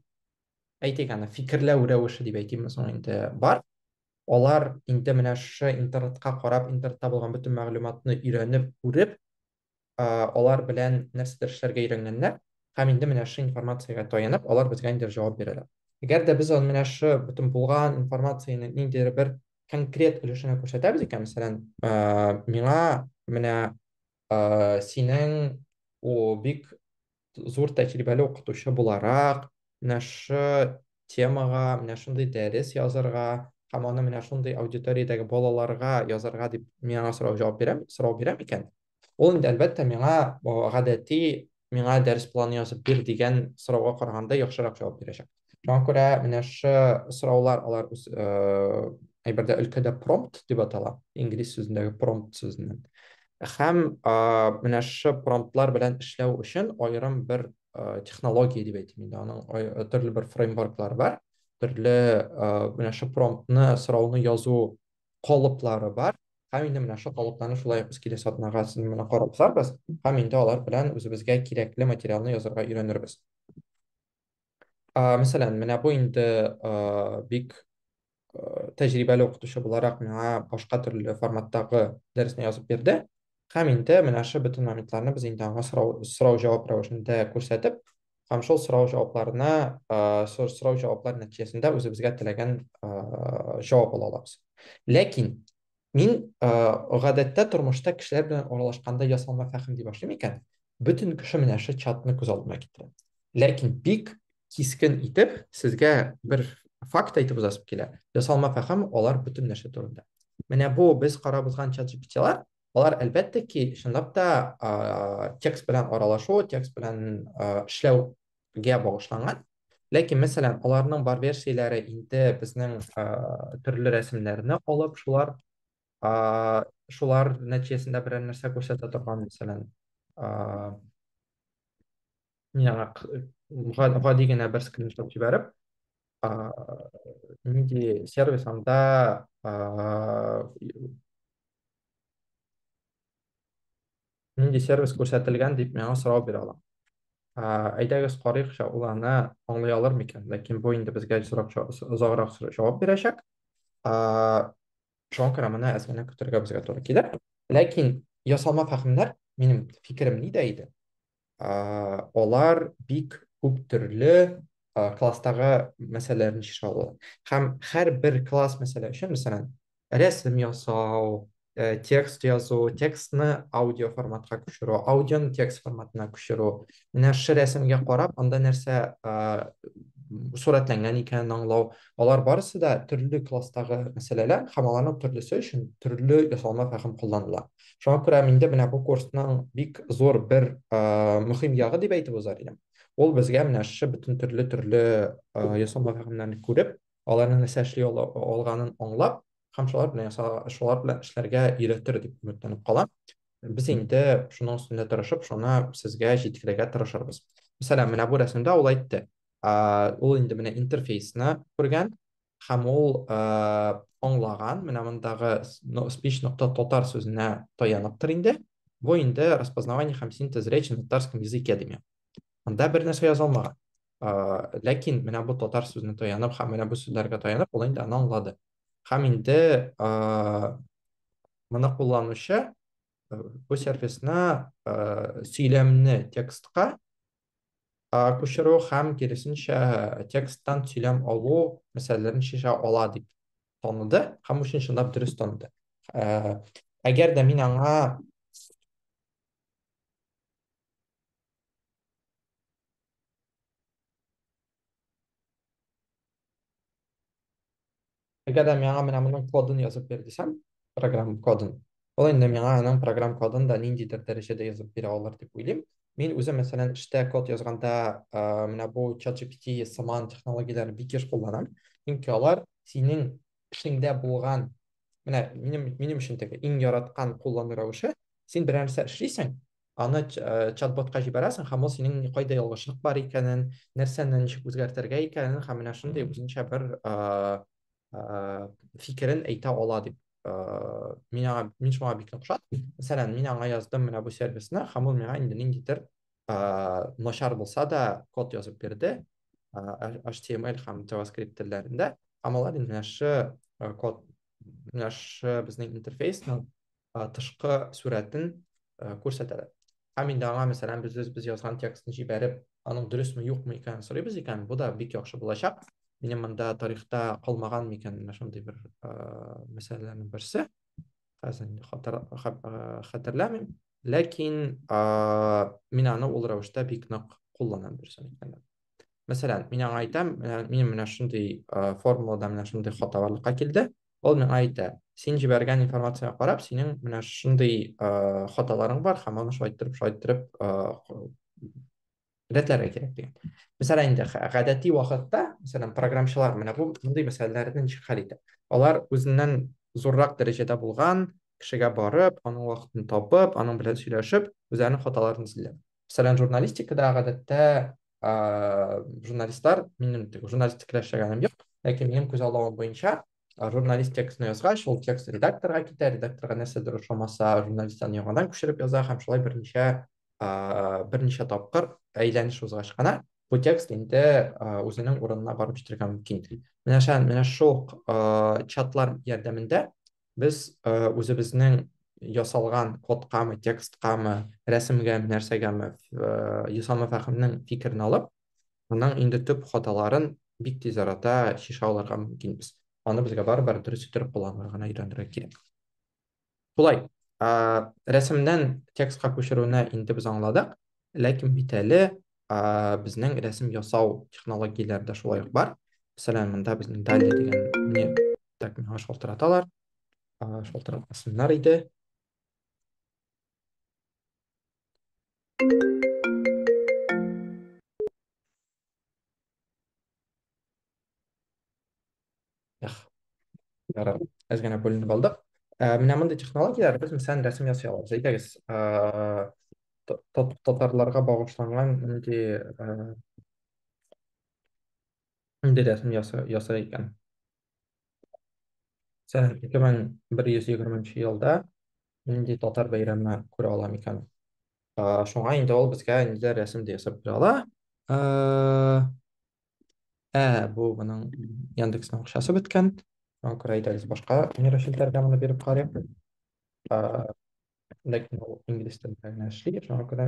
әйтик аны фикерләү рәвеше дип әйтимме соң инде бар Алар инде менә шушы интернетка карап, интернетта булган бөтен мәгълүматны өйрәнеп, күреп, алар белән нәрсәдер эшләргә өйрәнгәннәр һәм инде менә шушы информациягә таянып, алар безгә ниндидер җавап бирәләр. Әгәр дә без аны менә шушы бөтен булган информациянең ниндидер бер конкрет өлешенә күрсәтәбез икән, мәсәлән, миңа менә синең бик зур тәҗрибәле укытучы буларак, менә шы темага, менә шундый дәрес язарга һәм аны менә шундый аудиториядәге балаларга язарга дип мин аңа сорау җавап бирәм, сорау бирәм икән, ул инде әлбәттә миңа гадәти миңа дәрес планы язып бир дигән сорауга караганда яхшырак җавап бирәчәк. Шуңа күрә менә шы сораулар алар үз әйбердә өлкәдә промпт дип атала, инглиз сүзендәге промпт сүзеннән. Һәм менә шы промптлар белән эшләү өчен аерым бер технология дип әйтим инде, аның төрле бер фреймворклары бар, төрле менә шы промптны, сорауны язу калыплары бар. Һәм инде менә шы калыпларны шулай ук без киләсе атнага сезнең белән карап узарбыз һәм инде алар белән үзебезгә кирәкле материалны язарга өйрәнербез. А, мәсәлән, менә бу инде, а, бик, а, тәҗрибәле укытучы буларак миңа башка төрле форматтагы дәресне язып бирде. Һәм инде менә шул бөтен моментларны без инде аңа сорау сорау-җавап рәвешендә күрсәтеп, һәм шул сорау-җавапларына, а, сор сорау-җаваплар нәтиҗәсендә үзебезгә теләгән, а, җавап ала алабыз. Ләкин Мин э, гадәттә тормышта кешеләр белән аралашканда ясалма фәхем дип башлыйм икән, бөтен кеше менә шул чатны күз алдына китерә. Ләкин бик кискен итеп сезгә бер факт әйтеп узасым килә. Ясалма фәхем алар бөтен нәрсә турында. Менә бу без карап узган чат GPT-лар, алар әлбәттә ки, чынлап та текст белән аралашу, текст белән эшләү гә багышланган. Ләкин, мәсәлән, аларның бар версияләре инде безнең төрле рәсемнәрне алып, шулар шулар нәтиҗәсендә берәр нәрсә күрсәтә торган, мәсәлән, миңа гади генә бер скриншот җибәреп, нинди сервис анда нинди сервис күрсәтелгән дип миңа сорау бирә ала. Әйдәгез карыйкча ул аны аңлый алыр микән? Ләкин бу инде безгә сорак озаграк җавап бирәчәк. Шуңа күрә моны әз генә көтергә безгә туры килер. Ләкин ясалма фәһемнәр, минем фикерем нидә иде? алар бик күп төрле класстагы мәсьәләләрне чишә ала. Һәм һәр бер класс мәсьәлә өчен, мәсәлән, рәсем ясау, э, текст язу, текстны аудио форматка күчерү, аудионы текст форматына күчерү. Менә шы рәсемгә карап, анда нәрсә сурәтләнгән икәнен аңлау. Алар барысы да төрле класстагы мәсьәләләр һәм аларның төрлесе өчен төрле ясалма фәһем кулланыла. Шуңа күрә миндә менә бу курсның бик зур бер мөһим ягы дип әйтеп узар идем. Ул безгә менә шушы бөтен төрле төрле ясалма фәһемнәрне күреп, аларның нәрсә эшли алганын аңлап, һәм шулар белән шулар белән эшләргә өйрәтер дип өметләнеп калам. Без инде шуның өстендә тырышып, шуны сезгә җиткерергә тырышырбыз. Мәсәлән, менә бу рәсемдә ул әйтте. Ул инде менә интерфейсны күргән, һәм ул аңлаган, менә мондагы speech нокта татар сүзенә таяныптыр инде. Бу инде распознавание һәм синтез речи на татарском языке дими. Монда бер нәрсә язылмаган. Ләкин менә бу татар сүзенә таянып һәм менә бу сүзләргә таянып ул инде аны аңлады. Һәм инде моны кулланучы бу сервисны сөйләмне текстка күчерү һәм киресенчә тексттан сөйләм алу мәсьәләләрен чишә ала дип таныды һәм өчен чынлап дөрес таныды. Әгәр дә мин аңа Әгәр дә миңа менә моның кодын язып бир дисәм, программ кодын, ул инде миңа аның программ кодын да ниндидер дәрәҗәдә язып бирә алыр дип уйлыйм. Мин үзем, мәсәлән, эштә код язганда, э, менә бу ChatGPT сыман технологияләрне бик еш кулланам. Чөнки алар синең эшеңдә булган, менә минем, минем өчен теге иң яраткан куллану рәвеше, син берәр нәрсә эшлисең, аны э, чат-ботка җибәрәсең һәм ул синең кайда ялгышлык бар икәнен нәрсәне ничек үзгәртергә икәнен һәм менә шундый үзенчә бер э, э, фикерен әйтә ала дип мин аңа мин шуңа бик охшат мәсәлән мин аңа яздым менә бу сервисны һәм ул миңа инде ниндидер начар булса да код язып бирде html һәм javascript телләрендә һәм алар инде менә шу код менә шу безнең интерфейсның э, тышкы сурәтен э, күрсәтәләр. Һәм инде аңа, мәсәлән, без без язган текстны җибәреп, аның дөресме, юкмы икәнен сорыйбыз икән, бу да бик яхшы булачак. Минем монда тарихта калмаган микән менә шундый бер э, мәсьәләләрнең берсе. Хәзер инде хатар- ха- э, хәтерләмим. Ләкин э, мин аны ул рәвештә бик нык кулланам дөресен әйткәндә. Мәсәлән, мин аңа әйтәм, менә- минем менә шундый э, формулада менә шундый хата барлыкка килде. Ул миңа әйтә, син җибәргән информациягә карап, синең менә шундый хаталарың бар, һәм аны шулай иттереп, шулай иттереп рәтләргә кирәк дигән. Мәсәлән, инде гадәти вакытта, мәсәлән, программчылар менә бу мондый мәсьәләләрне ничек хәл итә? Алар үзеннән зуррак дәрәҗәдә булган кешегә барып, аның вакытын табып, аның белән сөйләшеп, үзләренең хаталарын эзлиләр. мәсәлән журналистикада гадәттә журналистлар минем журналистикада эшләгәнем юк ләкин минем күзаллавым буенча журналист текстны язгач ул текст редакторга китә редакторга нәрсәдер ошамаса журналист аны яңадан күчереп яза һәм шулай берничә берничә тапкыр әйләнеш узгач кына бу текст инде үзенең урынына барып җитәргә мөмкин менә менә шул чатлар ярдәмендә Без үзебезнең ясалган кодкамы, тексткамы, рәсемгәме, нәрсәгәме Исламов Әхунның фикерен алып, аның инде төп хаталарын бик тиз арада чишә алырга мөмкинбез. Аны безгә барыбер дөрес иттереп кулланырга гына өйрәнергә кирәк. Шулай, рәсемнән текстка күчерүне инде без аңладык. Ләкин бит әле безнең рәсем ясау технологияләре дә шулай ук бар. Мәсәлән, монда безнең Дали дигән не так миңа шалтыраталар. Шалтыратмасыннар иде. Ярар, әз генә бүленеп алдык. Ә, менә мондый технологияләр без мәсәлән рәсем ясый алабыз. Әйдәгез, ә, та- та- татарларга багышланган нинди ә, нинди рәсем яса- ясар икән? Сән 2120 нче елда нинди татар бәйрәме күрә ала микән? Э, Шуңа инде ул безгә ниләр рәсем дә ясап бирә ала. Э, Ә, бу моның Яндексның акчасы беткән. Шуңа күрә әйдәгез башка нейрочелтәргә моны биреп карыйк. Э, Ләкин ул инглиз телендә генә эшли, шуңа күрә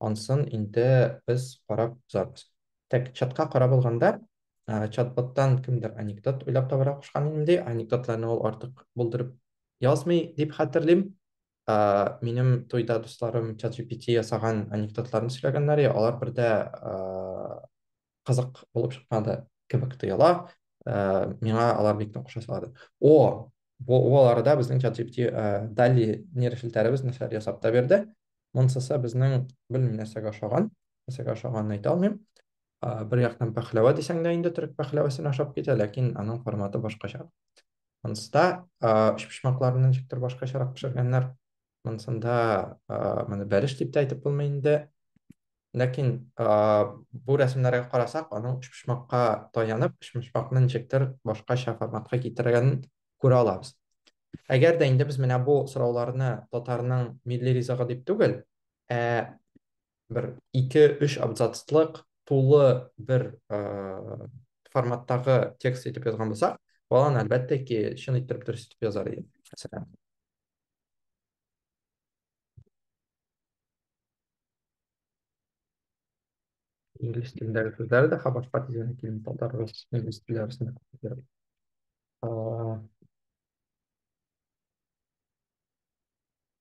Ансын инде без карап узабыз. Тәк чатка карап алганда, чат-боттан кемдер анекдот уйлап табарга кушкан минем ди. Анекдотларны ул артык булдырып язмый дип хәтерлим. Минем туйда дусларым чат-GPT ясаган анекдотларны сөйләгәннәр, я алар бер дә кызык булып чыкмады кебек тоела. Э, миңа алар бик нык ошасалады. О, бу аларда безнең ChatGPT э, Dali нейрошелтәребез нәрсәләр ясап та бирде. Монсысы безнең белмим нәрсәгә ошаган, нәрсәгә ошаганын әйтә алмыйм. Э, бер яктан пәхләвә дисәң дә инде төрек пәхләвәсенә ошап китә, ләкин аның форматы башкача. Монсыда өчпочмакларны ничектер башкачарак пешергәннәр. монысында моны бәлеш дип тә әйтеп булмый инде ләкин бу рәсемнәргә карасак аның өчпочмакка таянып өчпочмакны ничектер башкача форматка китергәнен күрә алабыз әгәр дә инде без менә бу сорауларны татарның милли ризыгы дип түгел ә бер ике өч абзацлык тулы бер форматтагы текст итеп язган булсак баланы әлбәттә ки чын иттереп дөрес итеп язар иде мәсәлән Инглиз телендәге сүзләре дә хабарга тизән килми, татар, рус, инглиз телләре арасында күп йөри. Aa,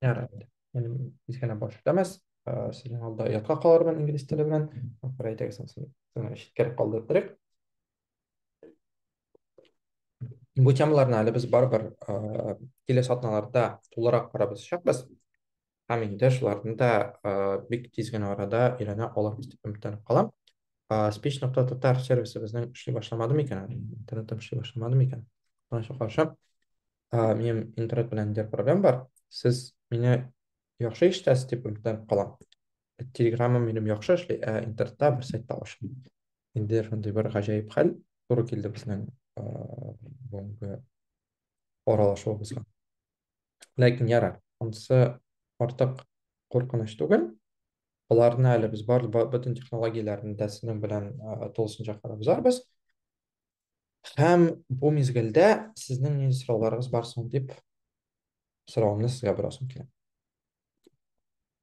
Ярайды. Минем кечкенә баш үтәмәс. Aa, Сезнең алда оятка калырмын инглиз теле белән. Акыры әйтәгез, соң соң читкәрәк калдырып торыйк. Бу темаларны әле без барыбер киләсе атналарда тулырак карабызчакбыз. Һәм инде шуларны да бик тиз генә арада өйрәнә алырбыз дип өметләнеп калам. Speech.tatar сервисы безнең эшли башламады микән әле? Интернетым эшли башламады микән? Моңа каршы минем интернет белән дә проблем бар. Сез мине яхшы ишетәсез дип өметләнеп калам. телеграммам минем яхшы эшли ә интернетта бер сайтта ачылды инде шундый бер гаҗәеп хәл туры килде безнең бүгенге аралашуыбызга ләкин яра анысы артык куркыныч түгел аларны әле без бар бөтен технологияләрне дә сезнең белән тулысынча карап узарбыз һәм бу мизгелдә сезнең нинди сорауларыгыз бар соң дип сорауымны сезгә бераз үтәм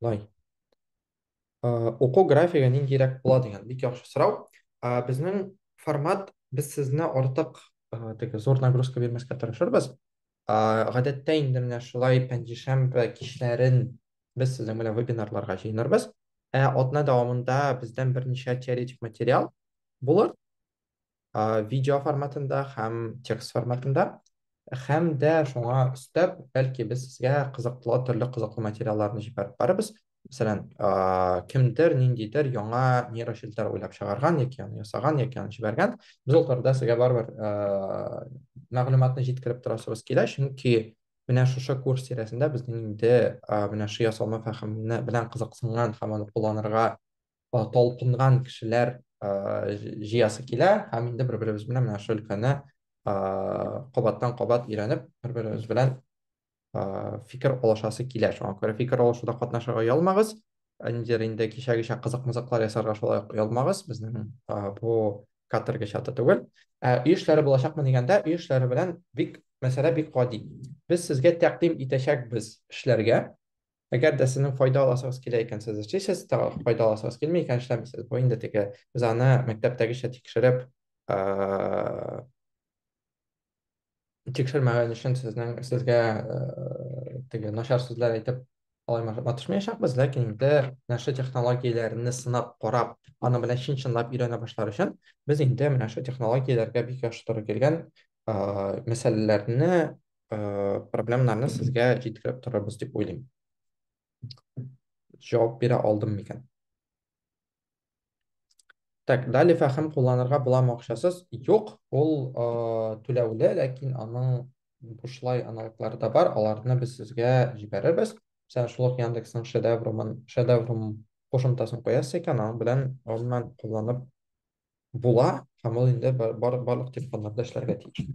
Лай. Оқу графигі ниндейрәк була дигән бик яхшы сорау. Безнең формат без сезне артык теге зур нагрузка бирмәскә тырышырбыз. Гадәттә инде менә шулай пәнҗешәмбе кичләрен без сезнең белән вебинарларга җыенырбыз. Ә атна дәвамында бездән берничә теоретик материал булыр. видео форматында һәм текст форматында һәм дә шуңа өстәп бәлки без сезгә кызыклы төрле кызыклы материалларны җибәреп барыбыз мәсәлән кемдер ниндидер яңа нейрочелтәр уйлап чыгарган яки аны ясаган яки аны җибәргән без ул турыда сезгә барыбер мәгълүматны җиткереп торасыбыз килә чөнки менә шушы курс тирәсендә безнең инде менә ши ясалма фәһеменә белән кызыксынган һәм аны кулланырга талпынган кешеләр җыясы килә һәм инде бер-беребез белән менә шул өлкәне кабаттан-кабат өйрәнеп, бер-беребез белән фикер алышасы килә. Шуңа күрә фикер алышуда катнашырга оялмагыз. Ниндидер инде кичәгечә кызык-мызыклар ясарга шулай ук оялмагыз. Безнең бу каторга чаты түгел. Ә өй эшләре булачакмы дигәндә, өй эшләре белән бик мәсьәлә бик гади. Без сезгә тәкъдим итәчәкбез эшләргә. Әгәр дә сезнең файда аласыгыз килә икән, сез эшлисез, файда аласыгыз килми икән, эшләмисез. Бу инде теге без аны мәктәптәгечә тикшереп, тикшермәгән өчен сезнең сезгә теге начар сүзләр әйтеп алай матышмаячакбыз, ләкин инде нәшер технологияләрне сынап карап, аны белән чын-чынлап өйрәнә башлар өчен без инде менә шул технологияләргә бик яхшы туры килгән мәсьәләләрне ә, проблемаларны сезгә җиткереп торырбыз дип уйлыйм. Җавап бирә алдым микән? Так, дали фәһем кулланырга буламы акчасыз? Юк, ул э, түләүле, ләкин аның бушлай аналоглары да бар, аларны без сезгә җибәрербез. Сән шулык Яндексның шедеврумын, шедеврум кушымтасын куясыз икән, аның белән гомумән кулланып була һәм ул инде бар, бар, барлык телефоннарда эшләргә тиеш.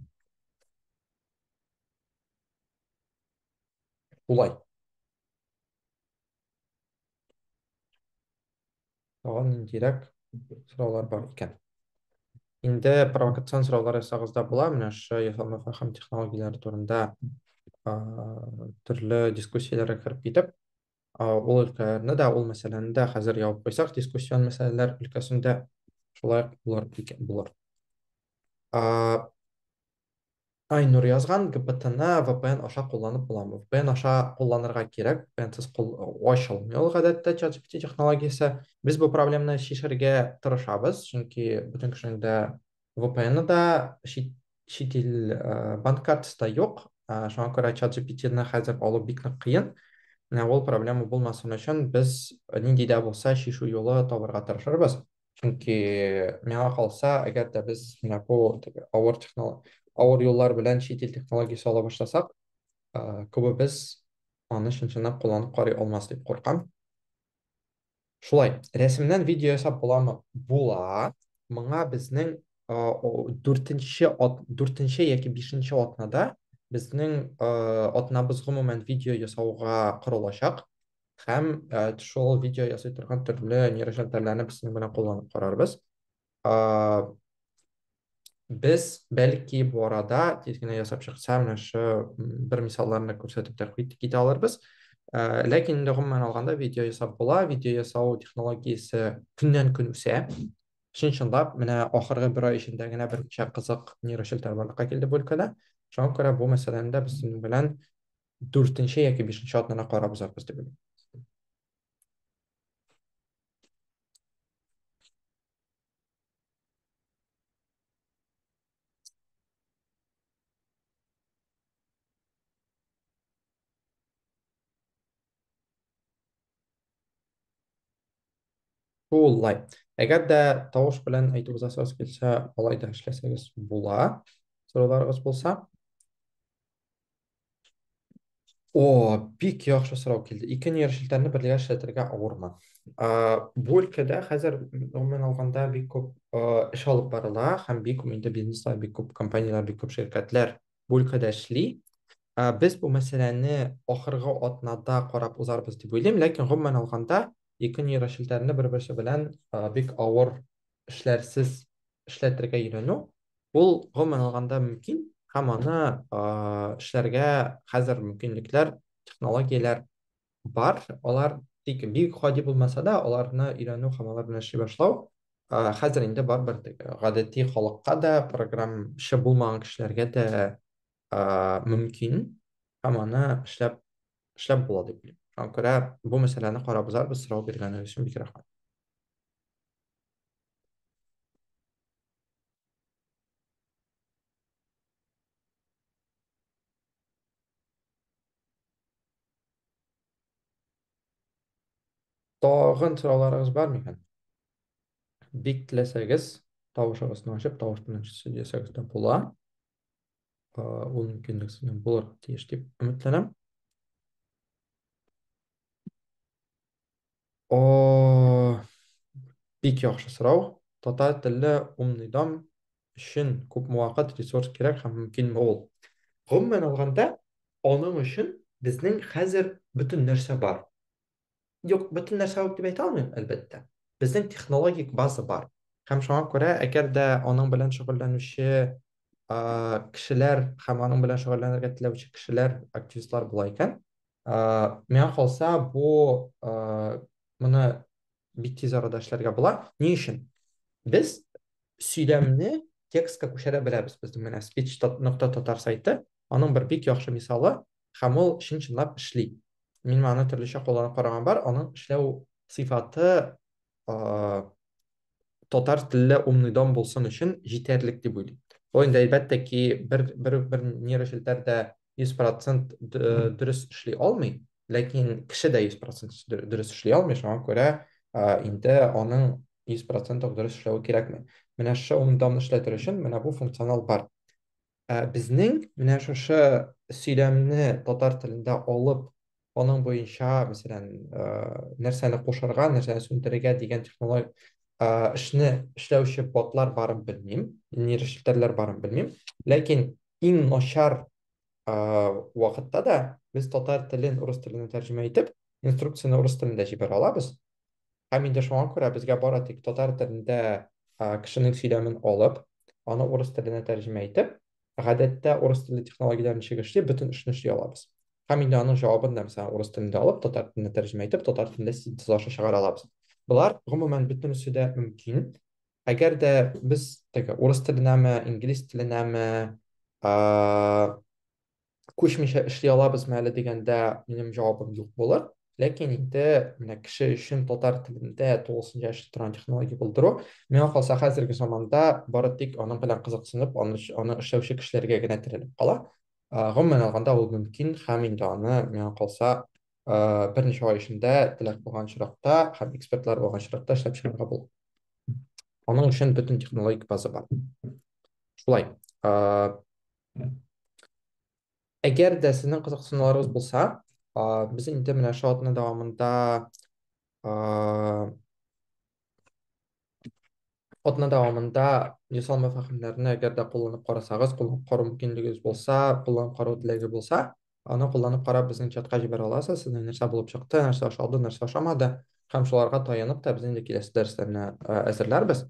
Улай. Тагын ниндирәк сораулар бар икән? Инде провокацион сораулар ясагызда була, менә шушы ясалма фәһем технологияләре турында а, төрле дискуссияләргә кереп китеп, ул өлкәне дә ул мәсьәләне дә хәзер ябып куйсак дискуссион мәсьәләләр өлкәсендә шулай булыр булыр айнур язган гптны vpn аша кулланып буламы vpn аша кулланырга кирәк vpnsыз ачылмый ул гадәттә чат gpt технологиясе без бу проблеманы чишергә тырышабыз чөнки бөтен кешенең дә VPN-ы да чит, чит ил ә, банк картасы да юк. Ә, шуңа күрә чат GPT-ны хәзер алу бик нык кыен. Менә ул проблема булмасын өчен без нинди дә булса чишу юлы табырга тырышырбыз. Чөнки миңа калса, әгәр дә без менә бу авыр технолог авыр юллар белән чит ил технологиясе ала башласак, ә, күбебез аны чын-чынлап кулланып карый алмас дип куркам. Шулай, рәсемнән видео ясап буламы? Була. Моңа безнең дүртенче дүртенче яки бишенче атнада безнең атнабыз гомумән видео ясауга корылачак һәм шул видео ясый торган төрле нейрожентальләрне безнең белән кулланып карарбыз. без бәлки бу арада тиз генә ясап чыкса менә шы бер мисалларны күрсәтеп тә китә алырбыз ә, ләкин инде гомумән алганда видео ясап була видео ясау технологиясе көннән көн үсә чын чынлап менә ахыргы бер ай эчендә генә берничә кызык нейрошелтәр барлыкка килде бу өлкәдә шуңа күрә бу мәсьәләне дә без сезнең белән дүртенче яки бишенче атнада карап узарбыз дип уйлыйм Шулай. Әгәр дә тавыш белән әйтеп узасыгыз килсә, алай да эшләсәгез була. Сорауларыгыз булса. О, бик яхшы сорау килде. Ике нейрочелтәрне бергә эшләтергә авырмы? А, бу өлкәдә хәзер гомумән алганда бик күп а, эш алып барыла һәм бик күп инде бизнеслар, бик күп компанияләр, бик күп ширкәтләр бу өлкәдә эшли. А, без бу мәсьәләне ахыргы атнада карап узарбыз дип уйлыйм, ләкин гомумән алганда ике нейрочелтәрне бер-берсе белән а, бик авыр эшләрсез эшләтергә өйрәнү, ул гомумән алганда мөмкин, һәм аны эшләргә хәзер мөмкинлекләр, технологияләр бар. Алар тик бик гади булмаса да, аларны өйрәнү һәм алар белән эшли башлау хәзер инде барыбер гадәти халыкка да, программчы булмаган кешеләргә дә мөмкин, һәм аны эшләп эшләп була дип уйлыйм. Шуңа күрә бу мәсьәләне карап узарбыз, сорау биргәнегез өчен бик рәхмәт. Тагын сорауларыгыз бар микән? Бик теләсәгез, тавышыгызны ачып, тавыш белән сөйләсәгез дә була. Ул мөмкинлек сезгә булыр тиеш дип өметләнәм. О, бик яхшы сорау. Татар телле умный дом өчен күпме вакыт, ресурс кирәк һәм мөмкинме ул? Гомумән алганда, аның өчен безнең хәзер бөтен нәрсә бар. Юк, бөтен нәрсә юк дип әйтә алмыйм, әлбәттә. Безнең технологик база бар. Һәм шуңа күрә, әгәр дә аның белән шөгыльләнүче а, кешеләр һәм аның белән шөгыльләнергә теләүче кешеләр, активистлар була икән, ә, миңа калса бу ә, моны бик тиз арада эшләргә була ни өчен без сөйләмне текстка күчерә беләбез безнең менә speech нокта татар сайты аның бер бик яхшы мисалы һәм ул чын чынлап эшли мин аны төрлечә кулланып караган бар аның эшләү сыйфаты татар телле умный дом булсын өчен җитәрлек дип уйлыйм. Бу инде әлбәттә ки бер бер бер нейрочелтәр дә 100% дөрес эшли алмый, ләкин кеше дә 100% дөрес эшли алмый, шуңа күрә инде аның 100% дөрес эшләве кирәкми. Менә шушы умный домны эшләтер өчен менә бу функционал бар. Ә безнең менә шушы сөйләмне татар телендә алып, аның буенча, мәсәлән, э, нәрсәне кушарга, нәрсәне сүндерергә дигән технологик э, эшне эшләүче ботлар барын белмим, нейрошелтәрләр барын белмим. Ләкин иң начар э, вакытта да без татар телен урыс теленә тәрҗемә итеп, инструкцияне урыс телендә җибәрә алабыз. Һәм инде шуңа күрә безгә бары тик татар телендә кешенең сөйләмен алып, аны урыс теленә тәрҗемә итеп, гадәттә урыс телле технологияләрне чигешли бөтен эшне эшли алабыз. Һәм инде аның җавабын да мәсәлән урыс телендә алып, татар теленә тәрҗемә итеп, татар телендә синтез аша чыгара алабыз. Болар гомумән бөтенесе дә мөмкин. Әгәр дә без теге урыс теленәме, инглиз теленәме, күчмичә эшли алабызмы әле дигәндә минем җавабым юк булыр ләкин инде менә кеше өчен татар телендә тулысынча эшли торган технология булдыру миңа калса хәзерге заманда бары тик аның белән кызыксынып аны аны эшләүче кешеләргә генә терәлеп кала гомумән алганда ул мөмкин һәм инде аны миңа калса берничә ай эчендә теләк булган очракта һәм экспертлар булган очракта эшләп чыгарга була аның өчен бөтен технологик база бар шулай Әгәр дә сезнең кызыксынуларыгыз булса, без инде менә шул атна дәвамында атна дәвамында ясалма фәһемнәрне әгәр дә кулланып карасагыз, кулланып карау мөмкинлегегез булса, кулланып карау теләге булса, Аны кулланып карап, безнең чатка җибәрә аласыз, сезнең нәрсә булып чыкты, нәрсә ошады, нәрсә ошамады, һәм шуларга таянып та без инде киләсе дәресләрне әзерләрбез.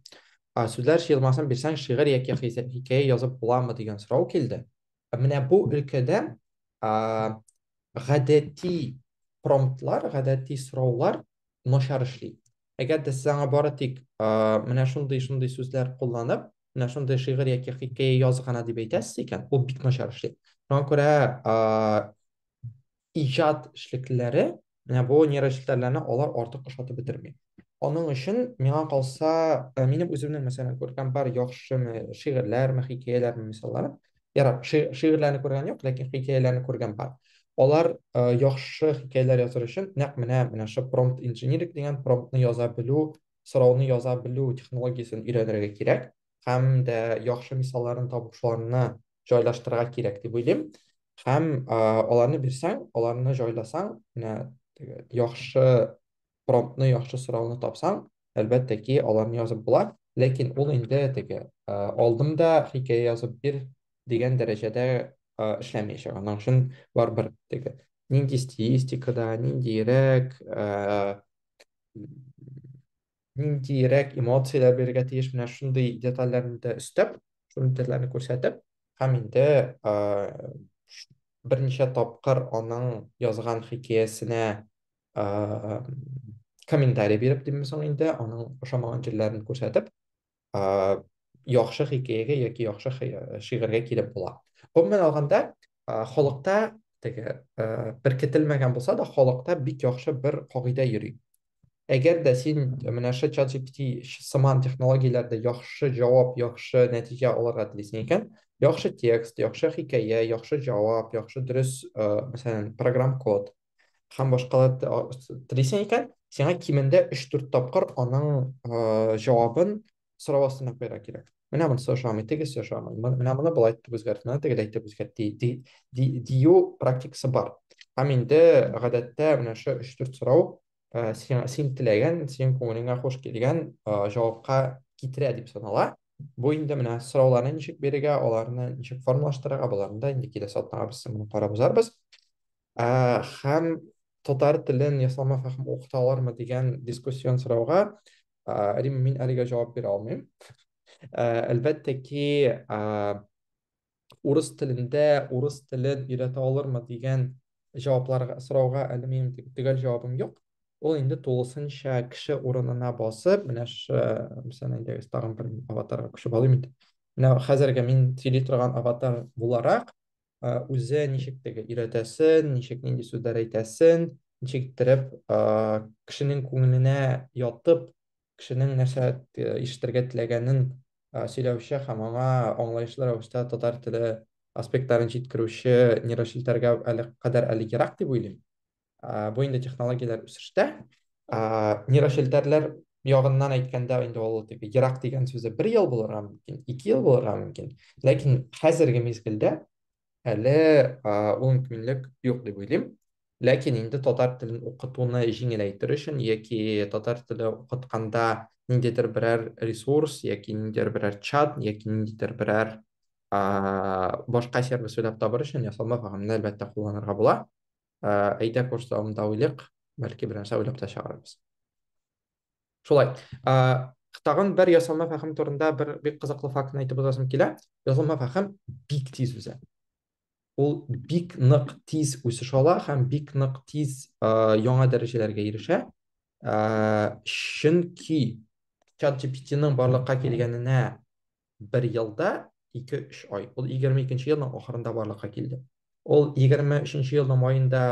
Сүзләр җыелмасын бирсәң, шигырь яки хикәя язып буламы дигән сорау килде. Менә бу өлкәдә гадәти промптлар, гадәти сораулар начар эшли. Әгәр дә сез аңа бары тик менә шундый-шундый сүзләр кулланып, менә шундый шигырь яки хикәя яз гына дип әйтәсез икән, ул бик начар эшли. Шуңа күрә иҗат эшлеклеләре менә бу нейрочелтәрләрне алар артык ошатып бетерми. Аның өчен миңа калса, э, минем үземнең мәсәлән күргән бар яхшы шигырьләрме, хикәяләрме мисаллары. Ярар, шигырьләрне күргән юк, ләкин хикәяләрне күргән бар. Алар э, яхшы хикәяләр языр өчен нәкъ менә менә шундый промпт инженерик дигән промптны яза белү сорауны яза белү технологиясен өйрәнергә кирәк һәм дә яхшы мисалларын табып шуларны җайлаштырырга кирәк дип уйлыйм һәм ә, аларны бирсәң аларны җайласаң менә теге яхшы промптны яхшы сорауны тапсаң әлбәттә ки аларны язып була ләкин ул инде теге ә, алдымда хикәя язып бир дигән дәрәҗәдә ә, эшләмәячәк аның өчен барыбер теге нинди стилистикада ниндирәк ә, ниндирәк эмоцияләр бирергә тиеш менә шундый детальләрне дә өстәп шундый детальләрне күрсәтеп һәм инде ә, берничә тапкыр аның язган хикәясенә ә, комментарий биреп димме соң инде аның ошамаган җирләрен күрсәтеп яхшы хикәягә яки яхшы шигырьгә килеп була. Гомумән алганда, халыкта теге беркетелмәгән булса да, халыкта бик яхшы бер кагыйдә йөри. Әгәр дә син менә шул ChatGPT сыман технологияләрдә яхшы җавап, яхшы нәтиҗә алырга телисең икән, яхшы текст, яхшы хикәя, яхшы җавап, яхшы дөрес, мәсәлән, программ код, һәм башкалар телисең икән, сиңа кимендә 3-4 тапкыр аның э, җавабын сорау астына куярга кирәк. Менә монысы ошамый, тегесе ошамый. Менә моны былай итеп үзгәрт, моны тегеләй итеп үзгәрт ди, ди, ди, дию практикасы бар. Һәм инде гадәттә менә шу 3-4 сорау э, син, син теләгән, синең күңелеңә хуш килгән э, җавапка китерә дип санала. Бу инде менә сорауларны ничек бирергә, аларны ничек формалаштырырга, боларны да инде киләсе атнага без моны карап узарбыз. Ә, һәм татар телен ясалма фәһем укыта алармы дигән дискуссион сорауга, ә, Рим, мин әлегә җавап бирә алмыйм. Ә, әлбәттә ки, ә, урыс телендә урыс телен өйрәтә алырмы дигән җавапларга, сорауга әле минем төгәл җавабым юк. Ул инде тулысынча кеше урынына басып, менә ш, мисән инде тагын бер аватарга күчеп алыйм инде. Менә хәзерге мин сөйли торган аватар буларак, үзе ничек теге өйрәтәсен, ничек нинди сүзләр әйтәсен, ничек иттереп кешенең күңеленә ятып, кешенең нәрсә ишетергә теләгәнен сөйләүче һәм аңа аңлаешлы рәвештә татар теле аспектларын җиткерүче нейрочелтәргә әле кадәр әле ерак дип уйлыйм. ә, бу инде технологияләр үсештә ә, нейрошелтәрләр ягыннан әйткәндә инде ул теге ерак дигән сүзе бер ел булырга мөмкин ике ел булырга мөмкин ләкин хәзерге мизгелдә әле ә, ул мөмкинлек юк дип уйлыйм ләкин инде татар телен укытуны җиңеләйтер өчен яки татар теле укытканда ниндидер берәр ресурс яки ниндидер берәр чат яки ниндидер берәр башка сервис уйлап табыр өчен ясалма программны әлбәттә кулланырга була әйдә курс дәвамында уйлыйк бәлки бернәрсә уйлап та чыгарырбыз шулай тагын бер ясалма фәһем турында бер бик кызыклы фактны әйтеп узасым килә ясалма фәһем бик тиз үсә ул бик нык тиз үсеш ала һәм бик нык тиз яңа дәрәҗәләргә ирешә чөнки чат gpt-ның барлыкка килгәненә бер елда 2-3 ай. Ул 22-нче елның ахырында барлыкка килде. Ул 23-нче елның маенда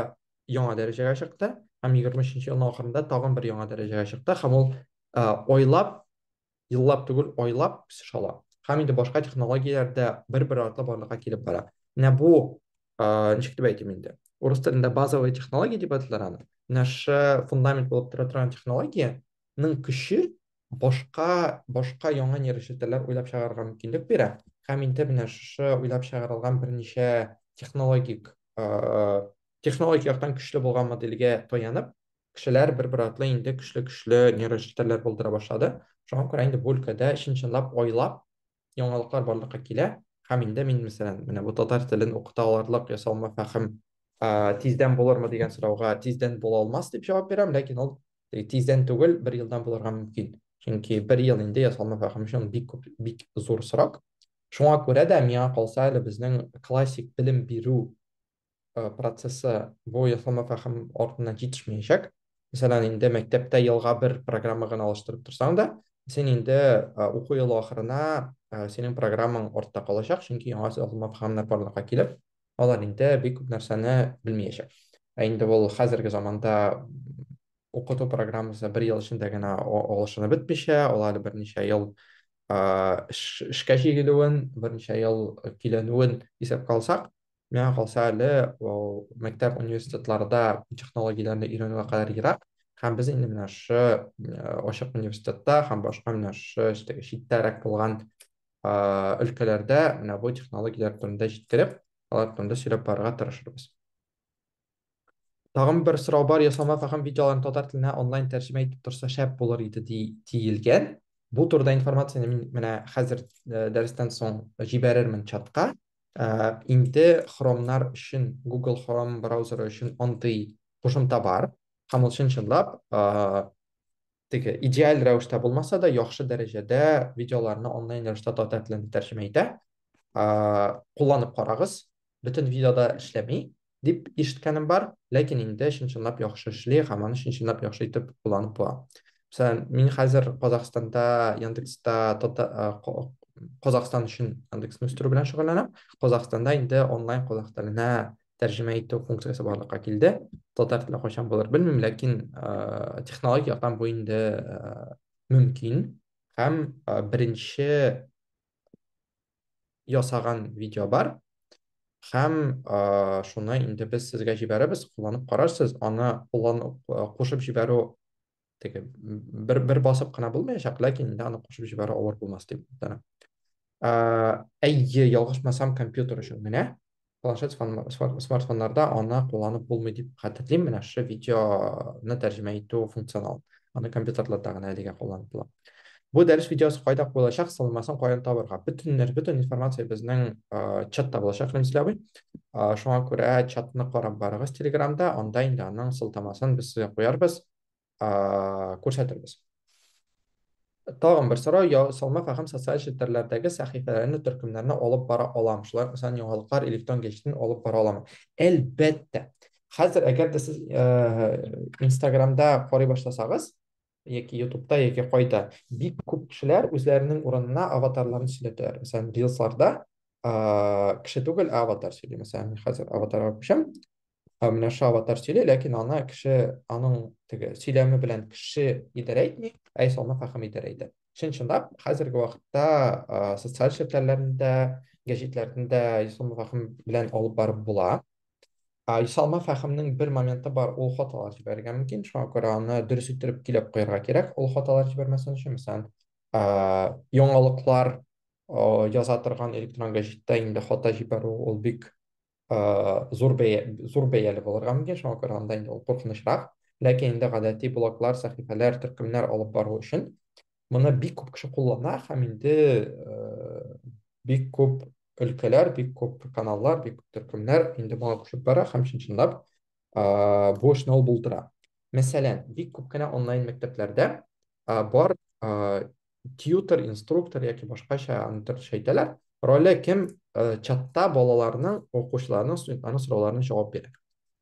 яңа дәрәҗәгә чыкты һәм 23-нче елның ахырында тагын бер яңа дәрәҗәгә чыкты һәм ул айлап, еллап түгел, айлап үсеш ала. Һәм инде башка технологияләр дә бер-бер артлы барлыкка килеп бара. Менә бу, ничек дип әйтим инде, урыс телендә базовый технология дип аталар аны. Менә шушы фундамент булып тора торган технологиянең көче башка башка яңа нейрочелтәрләр уйлап чыгарырга мөмкинлек бирә һәм инде менә шушы уйлап чыгарылган берничә технологик э, технологик яктан көчле булган модельгә таянып кешеләр бер бер артлы инде көчле көчле нейрочелтәрләр булдыра башлады шуңа күрә инде бу өлкәдә чын чынлап айлап яңалыклар барлыкка килә, һәм инде мин, мәсәлән, менә бу татар телен укыта алырлык ясалма фәһем тиздән булырмы дигән сорауга тиздән була алмас дип җавап бирәм, ләкин ул тиздән түгел, бер елдан булырга мөмкин. Чөнки бер ел инде ясалма фәһем өчен бик күп, бик зур срок. Шуңа күрә дә, миңа калса әле безнең классик белем бирү э, процессы бу ясалма фәһем артыннан җитешмәячәк. Мәсәлән, инде мәктәптә елга бер программа гына алыштырып торсаң да, син инде э, уку елы ахырына э, синең программаң артта калачак, чөнки яңа ясалма фәһемнәр барлыкка килеп, алар инде бик күп нәрсәне белмәячәк. Ә инде ул хәзерге заманда укыту программасы бер ел эчендә генә алышынып бетмичә, ул әле берничә ел эшкә җигелүен, берничә ел киләнүен исәпкә алсак, Миңа калса әле ул мәктәп университетларда технологияләрне өйрәнүгә кадәр ерак. Һәм без инде менә шы э, ачык университетта һәм башка менә шы чит- читтәрәк булган э, өлкәләрдә менә бу технологияләр турында җиткереп, алар турында сөйләп барырга тырышырбыз. Тагын бер сорау бар, ясалма фәһем видеоларын татар теленә онлайн тәрҗемә итеп торса шәп булыр иде ди, диелгән. Бу турыда информацияне мин менә хәзер э, дәрестән соң җибәрермен чатка. Э, Инде хромнар өчен, Google Chrome браузеры өчен андый кушымта бар. Һәм ул чын-чынлап э, теге идеаль рәвештә булмаса да, яхшы дәрәҗәдә видеоларны онлайн рәвештә татар теленә тәрҗемә итә. Э, Кулланып карагыз. Бөтен видеода эшләми. дип ишеткәнем бар, ләкин инде чын-чынлап яхшы эшли һәм аны чын-чынлап яхшы итеп кулланып була. Мәсәлән, мин хәзер Казахстанда Яндекста Казахстан өчен Яндексны үстерү белән шөгыльләнәм. Казахстанда инде онлайн казах теленә тәрҗемә итү функциясе барлыкка килде. Татар теле кайчан булыр белмим, ләкин технологик яктан бу инде мөмкин һәм беренче ясаган видео бар һәм ә, шуны инде без сезгә җибәрәбез кулланып карарсыз аны куллан кушып җибәрү теге бер бер басып кына булмаячак ләкин инде аны кушып җибәрү авыр булмас дип ә, әйе ялгышмасам компьютер өчен менә планшет смартфоннарда аны кулланып булмый дип хәтерлим менә шушы видеоны тәрҗемә итү функционал аны компьютерларда гына әлегә кулланып була бу дәрес видеосы кайда куелачак сылмасын каян табырга бөтен нәр бөтен информация безнең чатта булачак рәмзил абый шуңа күрә чатны карап барыгыз телеграмда анда инде аның сылтамасын без сезгә куярбыз күрсәтербез тагын бер сорау я салмак һәм социаль челтәрләрдәге сәхифәләрне төркемнәрне алып бара алам шулай ук сан яңалыклар электрон гәҗитен алып бара алам әлбәттә хәзер әгәр дә сез инстаграмда карый башласагыз яки ютубта яки кайда бик күп кешеләр үзләренең урынына аватарларын сөйләтәләр мәсәлән рилсларда кеше түгел аватар сөйли мәсәлән мин хәзер аватарга күчәм Камиляша аватар сөйли, ләкин аны кеше аның теге сөйләме белән кеше идарә итми, ә исә аны хаким идарә итә. Чын чынлап хәзерге вакытта социаль челтәрләрендә, гәҗитләрендә Исламов хаким белән алып барып була. Ә Исалма фәхемнең бер моменты бар, ул хаталар җибәрергә мөмкин, шуңа күрә аны дөрес иттереп килеп куярга кирәк, ул хаталар җибәрмәсен өчен, мәсәлән, яңалыклар яза торган электрон гәҗиттә инде хата җибәрү ул бик ә, зур бәя зур бәяле булырга мөмкин, шуңа күрә анда инде ул куркынычрак. Ләкин инде гадәти блоглар, сәхифәләр, төркемнәр алып бару өчен моны бик күп кеше куллана һәм инде ә, бик күп өлкәләр, бик күп каналлар, бик күп төркемнәр инде моңа күчеп бара һәм чын-чынлап ә, бу эшне ул булдыра. Мәсәлән, бик күп кенә онлайн мәктәпләрдә ә, бар ә, тьютер, инструктор яки башкача аны төрлечә әйтәләр. Роле кем э, чатта балаларның, укучыларның, студентларның сорауларына җавап бирә.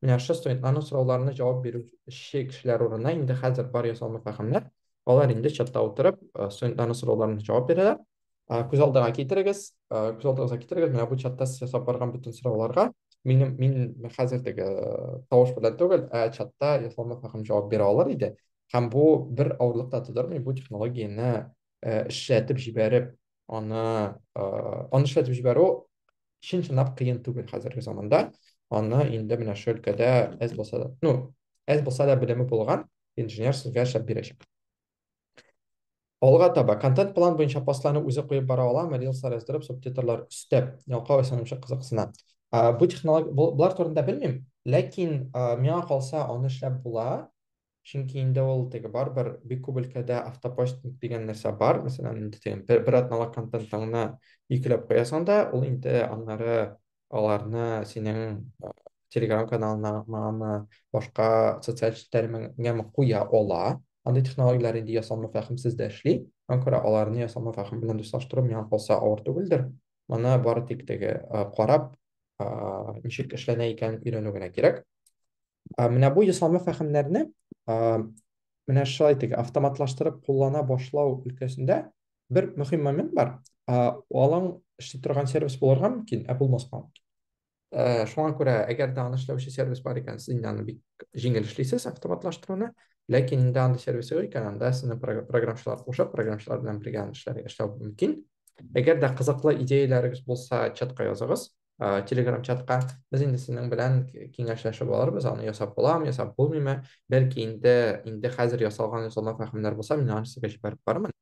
Менә шушы студентларның сорауларына җавап бирүче кешеләр урынына инде хәзер бар ясалма фәһемнәр. Алар инде чатта утырып, э, студентларның сорауларына җавап бирәләр. Э, күз алдыга китерегез, э, күз алдыгызга китерегез, менә бу чатта сез ясап барган бөтен сорауларга минем мин хәзердәге э, тавыш белән түгел, ә чатта ясалма фәһем җавап бирә алыр иде. Һәм бу бер авырлык та тудырмый, бу технологияне э, эшләтеп җибәреп, аны э, аны эшләтеп җибәрү чын-чынлап кыен түгел хәзерге заманда. Аны инде менә шул өлкәдә әз булса да, ну, әз булса да белеме булган инженер сезгә эшләп бирәчәк. Алга таба контент план буенча постларны үзе куеп бара аламы, рилслар яздырып, субтитрлар өстәп, ялкау исәнемчә кызыксына. Ә, бу технология, бу- булар турында белмим, ләкин ә, миңа калса аны эшләп була, чөнки инде ул теге барыбер бик күп өлкәдә автопостинг дигән нәрсә бар мәсәлән инде теге бер, бер атналык контентыңны йөкләп куясың да ул инде аннары аларны синең э, телеграм каналыңамы башка социаль челтәремеңәме куя ала андый технологияләр инде ясалма фәһемсез дә эшли аңа күрә аларны ясалма фәһем белән дуслаштыру миңа калса авыр түгелдер моны бары тик теге э, карап э, ничек эшләнә икәнен өйрәнү генә кирәк Ә, менә бу ясалма фәһемнәрне ә, менә шулай итик, автоматлаштырып куллана башлау өлкәсендә бер мөһим момент бар. Ә, алың эшли торган сервис булырга мөмкин, ә булмаска мөмкин. Ә, шуңа күрә, әгәр дә аны эшләүче сервис бар икән, сез инде аны бик җиңел эшлисез автоматлаштыруны. Ләкин инде андый сервис юк икән, анда сезне прог- програмчылар кушып, програмчылар белән бергә аны эшләр, эшләү мөмкин. Әгәр дә кызыклы идеяләрегез булса, чатка языгыз. ә, телеграм чатка без инде синең белән киңәшләшеп алырбыз аны ясап буламы ясап булмыймы бәлки инде инде хәзер ясалган ясалма фәһемнәр булса мин аны сезгә җибәреп бармын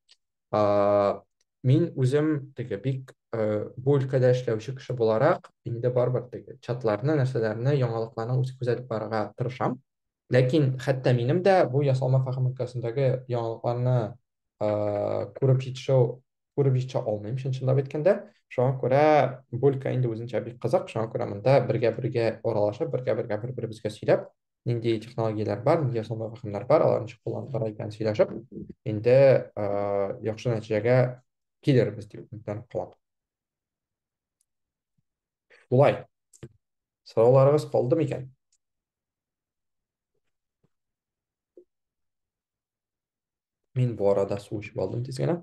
ә, мин үзем теге бик ә, бу өлкәдә эшләүче кеше буларак инде барыбер теге чатларны нәрсәләрне яңалыкларны үзе күзәтеп барырга тырышам Ләкин хәтта минем дә бу ясалма фәһем өлкәсендәге яңалыкларны күреп җитешү күреп җитешә алмыйм, чынчынлап әйткәндә. Шуңа күрә бу өлкә инде үзенчә бик кызык, шуңа күрә монда бергә-бергә аралашып, бергә-бергә бер-беребезгә сөйләп, нинди технологияләр бар, нинди ясалма фәһемнәр бар, алар ничек кулланып бара икән сөйләшеп, инде яхшы нәтиҗәгә килербез дип өметләнеп калам. Шулай. Сорауларыгыз калды микән? Мин бу арада су эчеп алдым тиз генә.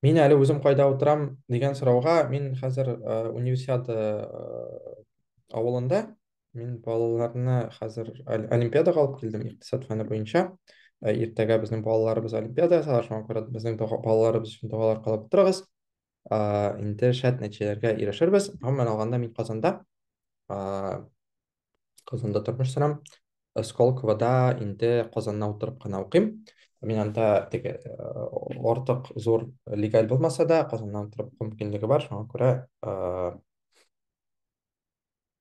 Мин әле үзем кайда утырам дигән сорауга, мин хәзер э, универсиада э, авылында, мин балаларны хәзер олимпиадага алып килдем икътисад фәне буенча. Э, иртәгә безнең балаларыбыз олимпиада ясалар, шуңа күрә безнең балаларыбыз өчен догалар кылып утырыгыз. ә, инде шәт нәтиҗәләргә ирешербез. Гомумән алганда мин Казанда, ә, Казанда тормыш сорам. Сколковода инде Казанна утырып кына укыйм. Мин анда теге артык зур легаль булмаса да, Казаннан утырып уку мөмкинлеге бар, шуңа күрә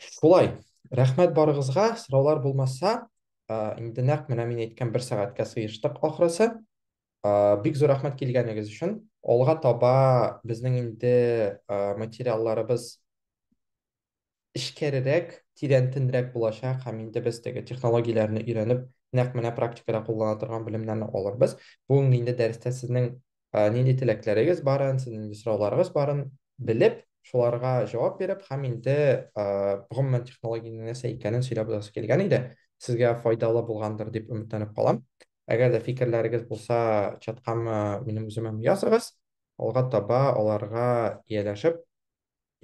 Шулай. Рәхмәт барыгызга. Сораулар булмаса, инде нәкъ менә мин әйткән бер сәгатькә сыештык ахрысы. Бик зур рәхмәт килгәнегез өчен. Алга таба безнең инде материалларыбыз эчкәрерәк, тирәнтенрәк булачак һәм инде без теге технологияләрне өйрәнеп, нәкъ менә практикада куллана торган белемнәрне алырбыз. Бүгенге инде дәрестә сезнең ә, нинди теләкләрегез барын, сезнең нинди сорауларыгыз барын белеп, шуларга җавап биреп һәм инде ә, гомумән технологиянең нәрсә икәнен сөйләп узасы килгән иде. Сезгә файдалы булгандыр дип өметләнеп калам. Әгәр дә фикерләрегез булса, чаткамы минем үземә языгыз. Алга таба аларга ияләшеп,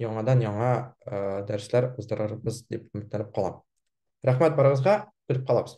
яңадан яңа ә, дәресләр уздырырбыз дип өметләнеп калам. Рәхмәт барыгызга, күреп калабыз.